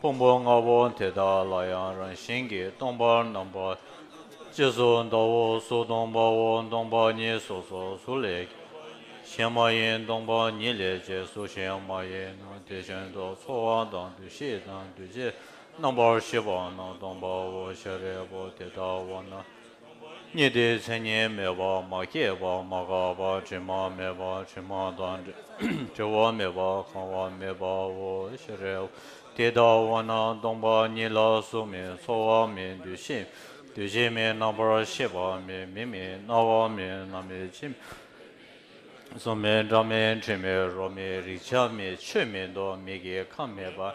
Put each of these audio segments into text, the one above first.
ཕུང་པོ་ལྔ་པོ་དེ་དག་ལ་ཡང་རང་བཞིན་གྱིས་སྟོང་པར་སྣང་བ། ཅེས་སོ། ཟླ་བོ་གཟུགས་སྟོང་པའོ་སྟོང་པ་ཉིད་སོ་སོ་གཟུགས་ལས། གཞན་མ་ཡིན་སྟོང་པ་ཉིད་ལས་ཅེས་གཟུགས་གཞན་མ་ཡིན་ནོ་དེ་བཞིན་དུ་ཚོར་བ་དང་འདུ་ཤེས་དང་འདུ་བྱེད་རྣམ་པར་ཤེས་པ་རྣམས་སྟོང་པའོ་ཤཱ་རིའི་བུ་དེ་ལྟ་བ་ན། གཉིས་ཏེ་མཚན་ཉིད་མེད་པ་མ་སྐྱེས་པ་མ་འགགས་པ་དྲི་མ་མེད་པ་དྲི་མ་དང་བྲལ་བ་མེད་པ་གང་བ་མེད་པའོ་ཞེས་རེ་བ་དེ་ལྟ་བ་ན་སྟོང་པ་ཉིད་ལ་གཟུགས་མེད་ཚོར་བ་མེད་འདུ་ཤེས་མེད་འདུ་བྱེད་མེད་རྣམ་པར་ཤེས་པ་མེད་མིག་མེད་རྣ་བ་མེད་སྣ་མེད་ལྕེ་མེད་གཟུགས་མེད་སྒྲ་མེད་དྲི་མེད་རོ་མེད་རེག་བྱ་མེད་ཆོས་མེད་མདོག་མེད་ཀྱི་ཁམས་མེད་པ།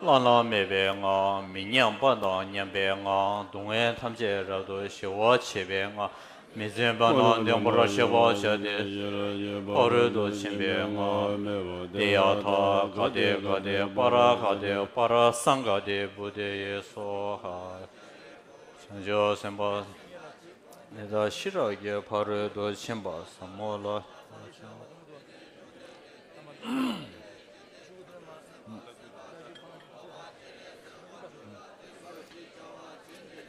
བླ་ན་མེད་པའི་ངང་མི་མཉམ་པ་དང་མཉམ་པའི་ངང་སྡུག་བསྔལ་ཐམས་ཅད་རབ་ཏུ་ཞི་བར་བྱེད་པའི་ངང་མི་བརྩོན་པ་ནང་བདེན་པར་ཤེས་པར་བྱ་སྟེ། ཕ་རོལ་ཏུ་ཕྱིན་པའི་ངང་སྟེ་ཡ་ཐ་ག་དེ་ག་དེ་པ་ར་ཧ་དེ་པ་ར་སངས་ག་དེ་བུ་དེ་ཡེ་སོ་ཧ། བྱང་ཆུབ་སེམས་དཔའ་འདི་དག་ཤེས་རབ་ཀྱི་ཕ་རོལ་ཏུ་ཕྱིན་པ་ཟབ་མོ་ལ།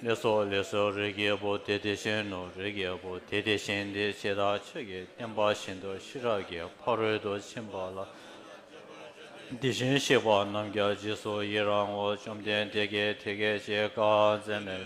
ལས་སོ་ལས་སོ་རིགས་ཀྱི་བུ་དེ་དེ་བཞིན་ནོ་རིགས་ཀྱི་བུ་དེ་དེ་བཞིན་དེ་ཇི་ལྟར་ཆོས་ཀྱི་བསྟན་པ་བཞིན་དུ་ཤེས་རབ་ཀྱི་ཕ་རོལ་ཏུ་ཕྱིན་པ་ལ་དེ་བཞིན་གཤེགས་པ་རྣམས་ཀྱང་རྗེས་སུ་ཡི་རང་ངོ་བཅོམ་ལྡན་འདས་ཀྱིས་དེ་སྐད་ཅེས་བཀའ་སྩལ་མོད།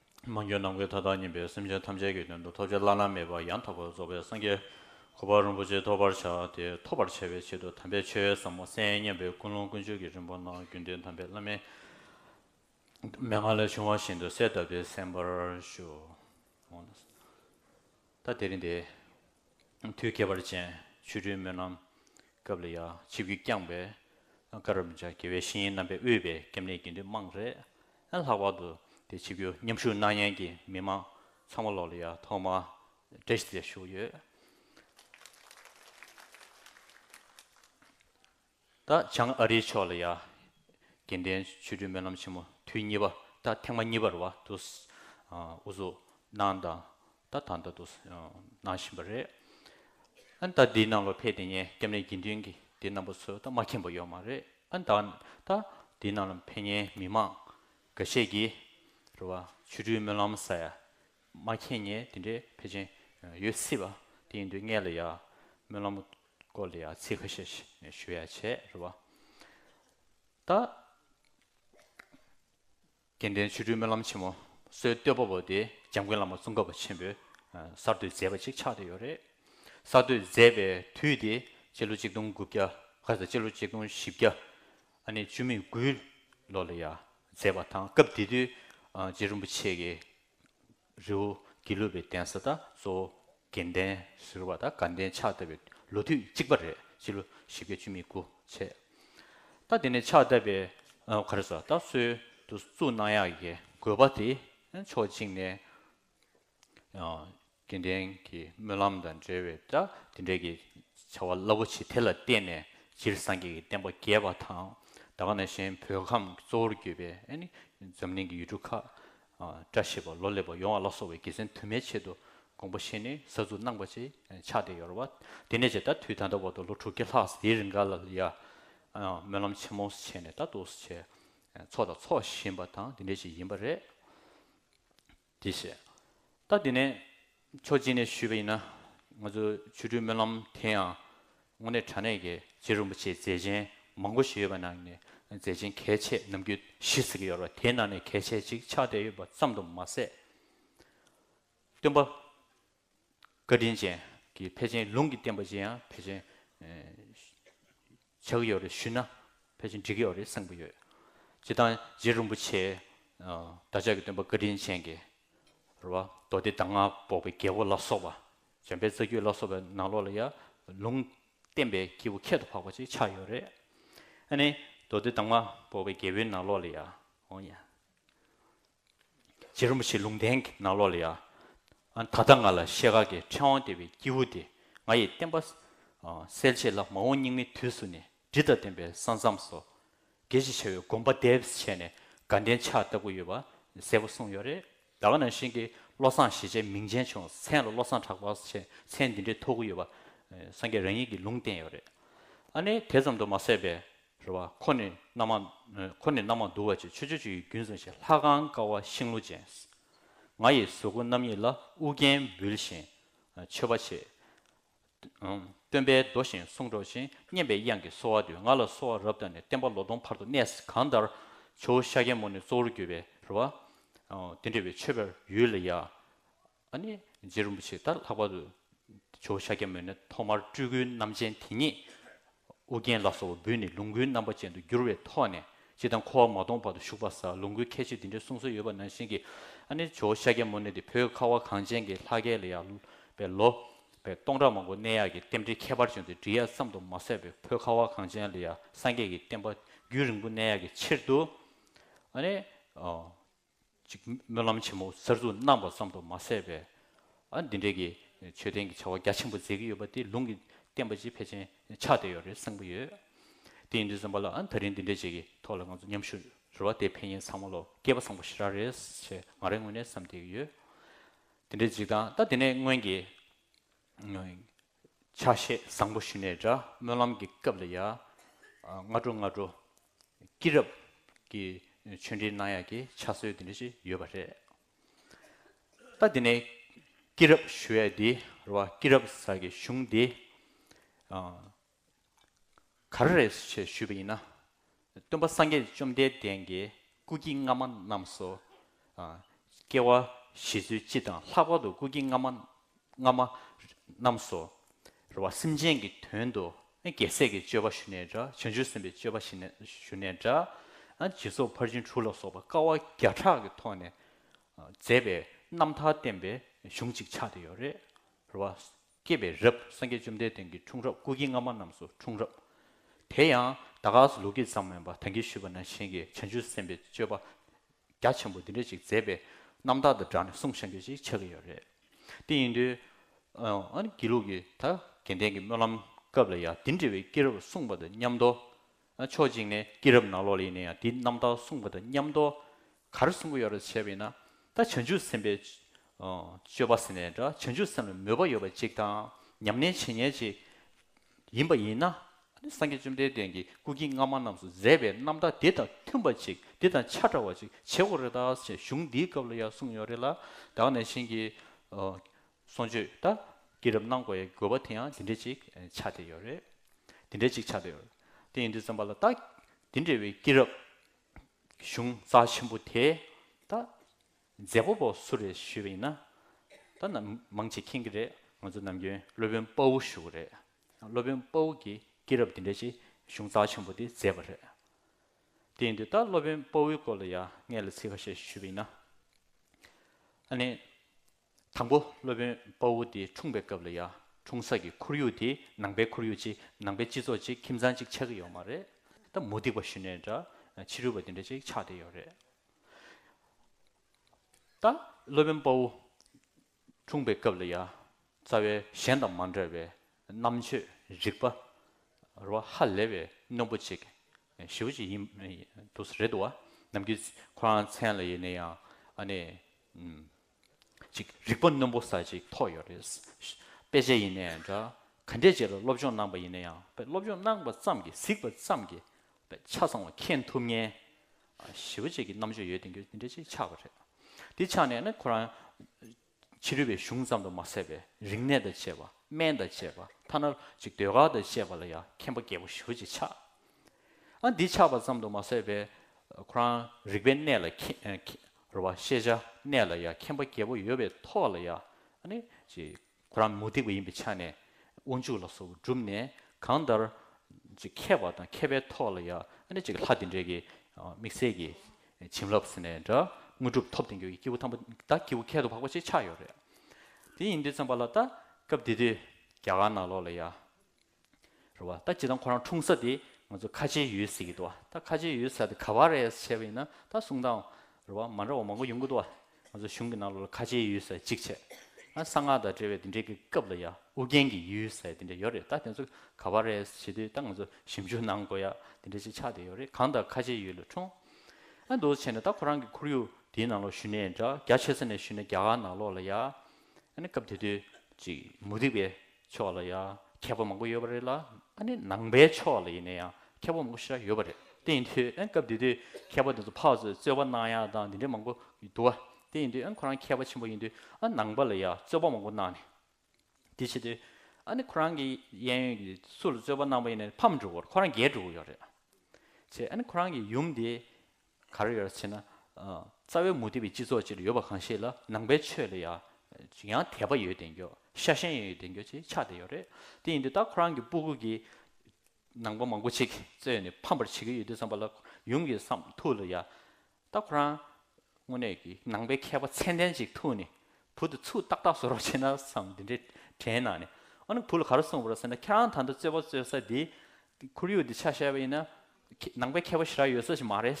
མ་འགྱུར་ནམ་མཁའི་མཐའ་དག་ཉིད་པའི་སེམས་ཅན་ཐམས་ཅད་ཀྱི་དོན་དུ་ཐོབ་བྱ་བླ་ན་མེད་པ་ཡང་དག་པར་རྫོགས་པའི་སངས་རྒྱས་གོ་འཕང་རིན་པོ་ཆེ་ཐོབ་པར་བྱ་སྟེ་ཐོབ་པར་བྱ་བའི་ཆེད་དུ་དམ་པའི་ཆོས་ཟབ་མོ་གསན་སྙམ་པའི་ཀུན་སློང་ཀུན་སྤྱོད་ཀྱི་རིམ་པ་རྣམས་རྒྱུན་ལྡན་དམ་པའི་བླ་མའི་མན་ངག་ལས་བྱུང་བ་བཞིན་དུ་གསལ་གདབ་སྟེ་གསན་པར་ཞུ། ད་དེ་རིང་འདི། དུས་ཁྱད་པར་ཅན་ཆུ་སྦྲུལ་སྨོན་ལམ་སྐབས་ལ་ཡང་ཆིབས་ཀྱིས་བསྐྱངས་པའི་ཀར་རམ་ཇཱ་དགེ་བའི་བཤེས་གཉེན་རྣམ་པས་དབུས་པའི་སྐྱབས་གནས་དགེ་འདུན་དམངས་རེད། ལྷག་པར་དུ་དེ་ཆིབས་བསྒྱུར་མཉམ་ཞུགས་གནང་མཁན་གྱི་མི་དམངས་ཚང་མ་ལོགས་ལ་ཡང་ཐོག་མར་བཀྲ་ཤིས་བདེ་ལེགས་ཞུ་གི་ཡོད། ད་བྱང་ཨ་རིའི་ཕྱོགས་ལ་ཡ། གྱེན་ལྡན་ཆོས་སྤྲུལ་སྨོན་ལམ་ཆེན་མོ་དུས་གཉིས་པ་ད་ཐེངས་མ་གཉིས་པར་བ་དུ། ཨུ་ཚུགས་གནང་དང་ད་ད་ད་དུ་གནང་བཞིན་པ་རེད། ཨན་ད་འདི་ནང་ལོ་ཕེ་དེ་ཉེ་སྐྱབས་གནས་དགེ་འདུན་གྱི་དེ་རྣམ་པ་ཚོས་ད་མ་མཁྱེན་པ་ཡོད་མ་རེད་ཨན་ད་ད་འདི་ནང་ལོ་ཕེ་ཉེ་མི་མང་འགའ་ཤས་ཀྱིས་རེད་བ་ཆོས་སྤྲུལ་སྨོན་ལམ་ས་ཡ་མ་མཁྱེན་ཉེ་དེ་འདྲའི་ཕེ་ཅན་ཡོད་སྲིད་བ་དེ་ཡིན་དུས་ངས་ལ་ཡ། སྨོན་ལམ། སྐོར་ལ་ཡང་ཚིག་ཁ་ཤས་ཞུ་ཡ་བྱས་རེད་བ། ད། དགེ་ལྡན་ཆོས་སྤྲུལ་སྨོན་ལམ་ཆེན་མོ་བསོད་བསྟོད་པ་པོ་དེ་འཇམ་མགོན་བླ་མ་གཙུག་འགབ་པ་ཆེན་པོས་གསར་བསྟོད་མཛད་པ་ཅིག་ཆགས་བསྡད་ཡོད་རེད། གསར་བསྟོད་མཛད་པའི་དུས་དེ་སྤྱི་ལོ་གཅིག་སྟོང་དགུ་བརྒྱ་ཁ་ཟེར་སྤྱི་ལོ་གཅིག་སྟོང་བཞི་བརྒྱ་ཨ་ནི་བཅུ་མེད་དགུའི་ལོ་ལ་ཡང་མཛད་པ་དང་སྐབས་དེ་དུས་རྗེ་རིན་པོ་ཆེ་གི་རི་བོ་དགེ་ལུགས་པའི་གདན་ས་དང་གཙོ་བོ་དགེ་ལྡན་ཟེར་བ་དང་དགའ་ལྡན་ཕྱག་བཏབ་པའི་ལོ་དུས་གཅིག་པ་རེད་སྤྱི་ལོ་བཞི་བརྒྱ་བཅུ་མི་དགུ་ཚེས་ད་དེ་ནས་ཕྱག་བཏབ་པའི་ག་རེ་ཟོ་ད་གསོལ་དུ་བཙུགས་གནང་ཡག་གི་དགོས་པ་དེ་ཕྱོགས་གཅིག་ནས་དགེ་ལྡན་གྱི་སྨོན་ལམ་དང་འབྲེལ་བའི་དེ་འབྲེལ་གྱི་བྱ་བ་རླབས་པོ་ཆེ་དེ་ལ་བརྟེན་ནས་སྤྱིར་སངས་རྒྱས་ཀྱི་བསྟན་པ་རྒྱས་པ་དང་ད་ག་ན་གཞན་བོད་ཁམས་གཙོ་བོར་གྱུར་པའི་འཛམ་གླིང་གི་ཡུལ་གྲུ་ཁག་བཀྲ་ཤིས་པ་ལོ་ལེགས་པ་ཡོང་བ་ལ་སོགས་པའི་དགེ་མཚན་དུ་མའི་ཆེད་དུ་དགོངས་པ་བཞེས་ནས་གཟའ་གཟུགས་སྣང་བ་ཅན་ཕྱག་དེ་ཡོར་བ། དེ་ནས་བཅས་ད་དུས་ད་ལྟ་བར་དུ་ལོ་དྲུག་བརྒྱ་ལྷག་དེའི་རིང་ག་ལ་ལ་ཡ། སྨོན་ལམ་ཆེན་མོ་བྱས་ནས་ད་གཏོགས་སུ་བྱས། འཚོགས་དང་འཚོགས་བཞིན་པ་དང་དེ་འདྲ་ཞིག་ཡིན་པ་རེད། དེ་བྱས། ད་དེ་ནས། མཚོ་སྐྱིད་ནས་ཞུས་པ་ཡིན་ན། ང་ཚོ་ཆུ་སྦྲུལ་སྨོན་ལམ་དེ་ཡང་དངོས་གནས་དྲ་གནས་ཀྱི་རྗེ་རིན་པོ་ཆེའི་མཛད་ཆེན་མང་པོ་ཞིག་ཡོད་པ་ནང་ནས་མཛད་ཆེན་གལ་ཆེ་ནམ་རྒྱུན་བཞི་ཟེར་གྱི་ཡོད་རེད་དེའི་ནང་ནས་གལ་ཆེ་གཅིག་ཆགས་བསྡད་ཡོད་པ་ཙམ་དུ་མ་ཟད། སྟོན་པ་བཀའ་དྲིན་ཅན་གྱི་ཕལ་ཆེན་ལུང་གི་བསྟན་པ་བཅས་ཡང་ཕལ་ཆེན། ཇག་ཡོད་རེད་ཞུས་ན་ཕལ་ཆེར་འགྲིག་ཡོད་རེད་གསུངས་པ་ཡོད། སྤྱི་བཏང་རྗེ་རིན་པོ་ཆེས། བདག་ཅག་གི་སྟོན་པ་བཀའ་དྲིན་ཅན་གྱི། རེད་བ། མདོ་སྡེ་གདམས་ངག་འབོགས་པའི་རྒྱལ་པོ་ལ་སོགས་པ། འཇམ་དཔལ་རྩ་རྒྱུད་ལ་སོགས་པའི་ནང་ལོགས་ལ་ཡང། ལུང་བསྟན་པའི་སྐྱེས་བུ་ཁྱད་དུ་འཕགས་པ་ཅིག་ཆགས་ཡོད་རེད། ཨ་ནི། མདོ་སྡེ་གདམས་ངག་འབོགས་པའི་རྒྱལ་པོའི་ནང་ལོགས་ལ་ཡང། རྗེ་རིན་པོ་ཆེ་ལུང་བསྟན་གྱི་ནང་ལོགས་ལ་ཡང། ད་ལྟ་ང་ལ་ཤེལ་དཀར་གྱི་ཕྲེང་བ་ལྟེ་བའི་སྐྱེས་བུ་དེ་ང་ཡི་བསྟན་པ། སེལ་བྱེད་ལྷ་མ་འོངས་སྙིགས་མའི་དུས་སུ་ནི་དྲི་དང་ལྡན་པའི་ས་མཚམས་སོ། དགེ་བྱེད་བྱ་བའི་དགོངས་པ་དེབས་བྱས་ནས་དགའ་ལྡན་ཕྱག་བཏབ་པོ་ཡོད་པ་གསལ་པོ་གསུངས་ཡོད་རེད། ད་ག་ནང་བཞིན་གྱི་བློ་བཟང་ཞེས་བྱའི་མིང་ཅན་བྱུང་མཚན་ལ་བློ་བཟང་གྲགས་པ་ཞེས་མཚན་འདི་འདྲའི་ཐོགས་གི་ཡོད་པ་སངས་རྒྱས་རང་ཉིད་ཀྱི་ལུང་བསྟན་ཡོད་རེད། ཨ་ནི་དེ་ཙམ་དུ་མ་ཟད་པས། རེ་བ། ཁོ་ནི་རྣམ་མང། ཁོ་ནི་རྣམ་མང་འདུ་བ་ཅན་ཆོས་སྤྱོད་བཅུ་ཡི་རྒྱུན་བཟུང་ཞིང་ལྷ་ཁང་ཀ་བ་ཤིང་ལོ་ཅན། ང་ཡི་གཟུགས་སྐུ་རྣམ་གཉིས་ལ་དབུ་རྒྱན་འབུལ་ཞིང་མཆོད་པ་བྱེད། སྟོན་པས་ཟློ་ཞིང་གསུང་སྒྲོག་ཅིང་སྙན་པའི་དབྱངས་ཀྱིས་གསོལ་བ་འདེབས་ང་ལ་གསོལ་བ་རབ་བཏབ་ནས་བསྟན་པ་ལོ་སྟོང་བར་དུ་གནས་སུ་གང་ལྟར། ཇོ་བོ་ཤཱཀྱའི་མོ་ནི་གཙོ་བོར་གྱུར་པའི་རེ་བ། དེ་འདྲ་བའི་མཆོད་པའི་ཡུལ་ལ་ཡང། ཨ་ནི་རྗེ་རིན་པོ་ཆེ་ད་ལྷག་པར་དུ་ཇོ་བོ་ཤཱཀྱ་མུ་ནེ་ཐོག་མར་སྤྲུལ་སྐུའི་རྣམ་ཅན་དེ་ཉིད་ཨོ་རྒྱན་ལ་སོགས་པ་འབུལ་ནས་ལུང་སྐུའི་རྣམ་པ་ཅན་དུ་བསྒྱུར་བའི་ཐོག་ནས་སྤྱི་དང་འཁོར་བ་མ་སྟོངས་བར་དུ་བཞུགས་པར་ས་ལུང་སྐུའི་ཁྱད་ཆོས་འདི་འདྲའི་གསུང་སྲོལ་ཡོད་པ་ནང་བཞིན་གྱི་ཨ་ནི་ཇོ་བོ་ཤཱཀྱ་མུ་ནེ་དེ་བོད་ཁ་བ་གངས་ཅན་གྱི་ལྷ་སྐལ་ལ་ཡར་བའི་ལོ་པའི་སྟོང་ཕྲག་མང་པོ་གནས་ཡག་གི་རྟེན་འབྲེལ་ཁྱད་པར་བྱུང་སྟེ་འབྲི་གཡག་ཙམ་དུ་མ་ཟད་པའི་བོད་ཁ་བ་གངས་ཅན་ལ་ཡར་སངས་རྒྱས་ཀྱི་བསྟན་པ་རྒྱུན་རིང་པོ་གནས་ཡག་གི་ཕྱིར་དུ་ཨ་ནི། ཅིག། སྨོན་ལམ་ཆེན་མོ་གསར་འཛུགས་གནང་བ་ཙམ་དུ་མ་ཟད་པས། འདི་འདྲའི་གི་མཆོད་རྟེན་གྱི་བྱ་བ་རྒྱ་ཆེན་པོ་མཛད་ཀྱི་ཡོད་པ་དེ་ལུང་གི་བསྟན་པ་སྤྱི་ཕལ་ཆེན་ཆགས་བསྡད་ཡོད་རེད་གསུངས་པ་ཡོད། དེ་ཡིན་དུས་རྩོམ་པ་ལ་ད་རིང་འདི་འདྲའི་བྱས་ཀྱི་ཐོག་ལ་ང་ཚོ་མཉམ་ཞུགས་རེ་བ་དེ་ཕན་ཡིན་ཚང་མ་ལོ་སྐལ་པ་བཟང་པོ་ཞེ་དྲག་རེད་ཅེས་ང་རང་དངོས་གནས་བསམ་བསྡད་ཀྱི་ཡོད། དེ་འདྲའི་འཇིགས་སྟངས་ད་དེ་ནས་སྔོན་གྱི། ཆ་ཤས་བཟང་པོ་ཞུ་ནས་འདྲ་སྨོན་ལམ་གྱི་སྐབས་ལ་ཡ། སྔ་དྲོ་སྔ་དྲོ། སྐྱིད་རབ། ཀྱི་ཆོས་འབྲེལ་གནང་ཡག་གི་ཆ་སྲོལ་དེ་འདྲ་ཞིག་ཡོད་པ་རེད། ད་དེ་ནས་སྐྱིད་རབ་ཞུ་ཡ་དེ་རུ་བ་སྐྱིད་རབ་ཟ་གི་གཞུང་དེ། ག་རེ་རེད་ཅེས་ཞུས་པ་ཡིན་ན། སྟོན་པ་སངས་རྒྱས་བཅོམ་ལྡན་འདས་ཀྱིས་སྐུ་དཀྱིལ་སྔ་མ་རྣམས་སོ། སྐྱེ་བ་བཞི་ཚུལ་སྤྱི་དང་ལྷག་པར་དུ་སྐུ་དཀྱིལ་སྔ་མ་སྔ་མ་རྣམས་སོ། རེ་བ་སེམས་ཅན་གྱི་དོན་དུ་རྒྱལ་སྲས་ཀྱི་སྤྱོད་པ་ཞུ་ནས་འདྲ་བྱང་ཆུབ་སེམས་དཔའི་སྤྱོད་པ་ཞུ་ནས་འདྲ། སྦྱིན་སོགས་ཕར་ཕྱིན་དྲུག་ལ་སོགས་པ་དཀའ་བ་བརྒྱ་ཕྲག་གི་ཐོག་ནས་མཛད་པའི་རྣམ་ཐར་བསྟན་པའི་གཞུང་ཅིག་ཆགས་བསྡད་ཡོད་རེད། རེ་བ་སྐྱེས་པའི་རབས་སངས་རྒྱས་བཅོམ་ལྡན་འདས་ཀྱི་འཁྲུངས་རབས་སྐུ་དཀྱིལ་སྔ་མ་རྣམས་སུ་འཁྲུངས་རབས། དེ་ཡང་ད་ག་ཟི་ལུགས་ཀྱི་ཙམ་མོན་པ་དང་གིས་ཞུས་པ་ན་གཞན་གྱི་བྱང་ཆུབ་སེམས་དཔའི་སྤྱོད་པ་རྒྱ་ཆེན་པོ་འདི་འདྲ་ཅིག་མཛད་པས་རྣམ་དག་དང་སྦྲགས་ནས་གསུང་བཤད་འགྱུར་ཅིག་ཆགས་ཀྱི་ཡོད་རེད། དེ་ཡིན་དུས། ཨ་ནི་དགེ་ལུགས་ཀྱི་ད་གེ་འདན་གྱི་སྨོན་ལམ་སྐབས་ལ་ཡང་འདི་འདྲ་བའི་སྐྱེས་རབས་གསུངས་པ་དང་མཉམ་དུ། ན་ཆོག་ཅིག་ནས་སྐྱེས་རབས་ནང་ལོགས་ལས་ནས་ཡང་དེ་རྣམ་དག་གསུངས་པ་དང་མཉམ་དོ། གར་གསུངས་ཀྱི་ཡོད་རེད་བྱས་པས་ན། ད་བྱང་ཆུབ་སེམས་དཔའི། སྤྱོད་པ་ཟེར་ནས་འདྲ་བྱང་ཆུབ་སེམས་ལ་མོས་པ་ཡོད་པ་ཅིག་དང་ཉམས་ལེན་བྱེད་ཉེས་ཅིག། ཡིན་པ་ཡིན་ན། སངས་རྒྱས་བཅོམ་ལྡན་འདས་ཀྱིས་སྐུ་སྐྱེ་སྔ་མ་རྣམས་སུ་མཛད་པའི་རྣམ་དག་དེ་དང་མཐུན་པ་ཅིག་དེ་དང་ཆ་འདྲ་བ་ཅིག་བྱེད་དགོས་རེད་ད་ཞེས་གཞུང་འདིའི་སྐབས་ལ་ཡང་གསུངས་ཡོད་རེད་ལ། བདག་ནས་བྱིན་གྱིས། གསུང་ཆོས་ལྟ་སྐྱེས་རབ་གནང་དགོས་ཡའི་དགོས་པ་དེ་ཡང་འདི་འདྲས་ཅིག་ཆགས་བསྡད་ཡོད་རེད། འདི་འདྲས་ཅིག་ཆགས་བསྡད་ཡོད། དེ་ཡིན་དུས་བཙོན་པ་ལ་ལྟ་འདི་འདྲས་བའི་སྐྱེས་རབ་གཞུང་རྩ་ཆེན་པོ་དེ་ལྟ་མཛད་པོ་པོ་སུ་རེད་ཞུས་པ་ཡིན་ན་ལྟ་ན་མང་ཆེ་མཁྱེན་གྱི་རེད་ང་ཚོ་ནམ་རྒྱུན་སློབ་དཔོན་དཔའ་བོ་ཞུ་གི་རེད་སློབ་དཔོན་དཔའ་བོ་གྱིས་སྐྱེས་རབ་འདི་འདྲས་ཅིག་གཞུང་རྩ་ཆེན་པོ་དེ་མཛད་པ་རེད། དེ་ཡིན་དུས་ལྟ་སློབ་དཔོན་དཔའ་བོའི་སྐོར་ལ་ཡ་ངས་ལ་ཚིག་ཁ་ཤས་ཞུས་པ་ཡིན་ན། ཨ་ནི། དང་པོ་སློབ་དཔོན་དཔའ་བོ་དེ་འཁྲུངས་པའི་སྐབས་ལ་ཡང་འཁྲུངས་ས་ཀྱི་ཁོར་ཡུག་དེ་ནང་པའི་ཁོར་ཡུག་ཅིག་ནང་པའི་སྤྱི་ཚོགས་ཅིག་ཁྱིམ་ཚང་ཅིག་ཆགས་ཀྱི་ཡོད་མ་རེད་དམ་མུ་སྟེགས་པ་ཞུ་ནས་འདྲ་ཕྱི་རོལ་བ་དེ་འདྲ་ཅིག་ཆགས་བསྡད་ཡོད་རེད་ད། སློབ་དཔོན་དཔའ་བོ་འཁྲུངས་པའི་སྐབས་ལ་ཡང་རྩ་བའི་གཞན་དང་མ་འདྲ་བའི་རྣམ་དཔྱོད་རིག་པ་རོ་ཧ་ལེ་བའི་རྣོན་པོ་ཅིག་ཞི་བོ་ཅིག་ཡིན་འདུག་རེད་དོ། ནམ་རྒྱུན་ཁོ་རང་མཚན་ལ་ཡེ་ནས་ཡང་ཨ་ནེ། ཅིག་རིག་པ་རྣོན་པོ་ཟ་ཅིག་ཐོག་ཡོད་རེད། དཔེ་ཆ་ཡིན་ནའི་འདྲ། ག་འདྲས་བྱས་ལ་སློབ་སྦྱོང་གནང་པ་ཡིན་ན་ཡང་དཔེ་སློབ་སྦྱོང་གནང་པ་ཙམ་གྱིས་གཟིགས་པ་ཙམ་གྱིས་དཔེ་ཆ་ཚང་བ་མཁྱེན་ཐུབ་ངེས། ཞི་བ་བཅས་ཀྱི་རྣམ་དཔྱོད་ཡོད་དེ་འདྲས་ཅིག་ཆགས་པ་རེད། དེ་ཆགས་ནས་ནི་ཁོ་རང། ཕྱི་རོལ་བའི་གཞུང་ཙམ་དུ་མ་ཟད་པའི་རིག་གནས་དང་བཅས་པ་སྨན་དང་བཅས་པ་ཐ་ན་ཅིག་ཟློས་གར་དང་བཅས་པ་ལ་ཡང་མཁྱེན་པ་རྒྱས་པོ་ཞི་བ་ཅིག་ཆགས། ཨ་འདི་ཆགས་པ་ཙམ་དུ་མ་ཟད་པས་ཁོ་རང་རིག་པའི་གནས་ལ་རེ་བ་ཤེས་བྱ་གནས་ལ་ཡ་མཁྱེན་པ་རྒྱལ་པོ་ཡོད་པའི་ཐོག་ལ་ཡ་ཁོ་རང་མུ་སྟེགས་པ་ཡིན་པའི་ཆ་ནས་དབང་ཕྱུག་ལ་སོགས་པ་བསྒྲུབས་ནས་གང་ལྟར་མཁས་པ་དང་མཁས་པའི་ཐོག་ལ་ཡ་ལྷ་དེ་འདྲས་ཀྱི་དམིགས་བསལ་གྱི་བྱིན་རླབས་ནས་འདྲ་དངོས་གྲུབ་ཐོབ་བསྟན་འགྱུར་གྱི་སྐྱེས་བུ་ཐམས་པ་ད་སྐྱེས་བུ་ཁལ་དུ་འཕགས་པ་ཅིག་ཆགས་ཡོད་རེད་དེ་ཡིན་དུས་ཙམ་པ་ལ་ད་སྐབས་དེ་དུས་རྒྱ་གར་ནང་ལོགས་ལ་ཡ་རེད་བ། ད་ཇི་ལྟར་ཁོ་རང་འཁྲུངས་ས་དེ་ང་ཚོ་ཁ་ཆེའི་ཡུལ་ཟེར་གྱི་འདུག་བ། ད་ཁ་ཆེའི་ཡུལ་ས་དེ་ག་བ་རེད་བྱས་པ་ཡིན་ན་ད་གསུང་དང། རེད་བ། མ་འདྲ་བ་མང་པོ་ཡོང་གི་འདུག་བ། ང་ཚོ་གཞུང་གི་ནང་ལོགས་ལ་ཁ་ཆེའི་ཡུལ་ས་གཅིག་བྱས། ཨ་གསང་སྔགས་དང་འབྲེལ་བའི་དེ་འདྲའི་གི་སྐབས་ལ་ཡ་ཨུ་རྒྱན་གྱི་ཡུལ་ས་དེ་འདྲ་ཡོད་རེད་ད་དེ་ཚོ་ག་བ་རེད་བྱས་དུས་ད་ང་ཚོ་ཞིབ་འཇུག་གནང་དགོས་ཡ་དེ་འདྲ་ཅིག་ཆགས་བསྡད་ཡོད་རེད་གང་ལྟར་ཁ་ཆེའི་ཡུལ་ལ་འཁྲུངས། ཨ་འདུག་བྱས་ནས་ད་ཁོ་རང་གི་ཁོར་ཡུག་དེའི་ནང་ལོགས་ཞུ་ནས་འདྲ་རྒྱ་ཆེ་ས་ནས་ཞུ་ནས་རྒྱ་གར་ནང་ལོགས་ལ་ཡ། ཨ་ནི་སྐབས་དེ་དུས་ཅིག་མུ་ཏིག་པའི་ཕྱོགས་ལ་ཡང་ཁྱད་པར་མང་པོ་ཡོད་པ་རེད་ལ་ཨ་ནི་ནང་པའི་ཕྱོགས་ལ་ཡིན་ན་ཡང་ཁྱད་པར་མང་པོ་ཞིག་ཡོད་པ་རེད་དེ་ཡིན་དུས་ཨེ་སྐབས་དེ་དུས་མཁས་པ་དེ་ཚོ་ཕག་ཚོས་རྩོད་པ་གནང་ཡ་དང་དེ་འདྲས་མང་པོ་འདུག་ཨ་དེ་ཡིན་དུས་ཨེ་ཁོ་རང་མཁས་པ་ཆེན་པོ་ཡིན་དུས་ཨ་ནང་པ་ལ་ཡང་རྩོད་པ་མང་པོ་གནང་ནས་དེ་བྱེད་དུས་ཨ་ནི་ཁོ་རང་གི་གཡས་གཡོན་གྱི་སུ་ལ་རྩོད་པ་གནང་པ་ཡིན་ན་ཕམ་འགྲོ་གོ་རང་རྒྱལ་འགྲོ་གོ་ཡོད་རེད་ཨ་ཅེ་ཨ་ནི་ཁོ་རང་གི་ཡུམ་དེ་གར་ཡོད་ཅེ་ན། རྩ་བའི་མུ་སྟེགས་པའི་སྤྱི་ཚོགས་ཅིག་ལ་ཡོད་པ་གང་ཞིག་ལ་ནང་པའི་ཆོས་ལ་ཡང་དད་པ་ཡོད་བདེན་འགྱོ། ཤ་ཞེན་ཡོད་བདེན་འགྱོ་ཅེས་ཆགས་བསྡད་ཡོད་རེད། དེ་ཡིན་དུས་ད་ཁོ་རང་གི་སྤུ་གུ་གི་ནང་པ་མང་པོ་ཅིག་རྩོད་ནས་ཕམ་པར་བྱེད་ཀྱི་ཡོད་དུས་བསམ་པ་ལ་ཡུམ་གྱི་སམ་ཐུགས་ལ་ཡ། ད་ཁོ་རང་དངོས་གནས་ཀྱི་ནང་པའི་མཁས་པ་མཚན་ལྡན་ཅིག་ཐུག་ནས་བུ་དེ་ཚུར་ཏག་ཏག་བཟོ་རོགས་བྱས་ན་བསམ་དེ་འདྲའི་དྲན་ནང་ནས། འོ་ན་བུ་ལ་ག་རེ་གསུངས་པ་རེད་ཟེར་ན་ཁྱེད་རང་ད་ལྟ་རྩོད་པ་རྩོད་ས་དེ་ཁོར་ཡུག་འདི་ཆ་ཤས་པ་ཡིན་ན་ནང་པའི་མཁས་པ་ཤི་ར་ཡོད་ས་ཞིག་མ་རེད།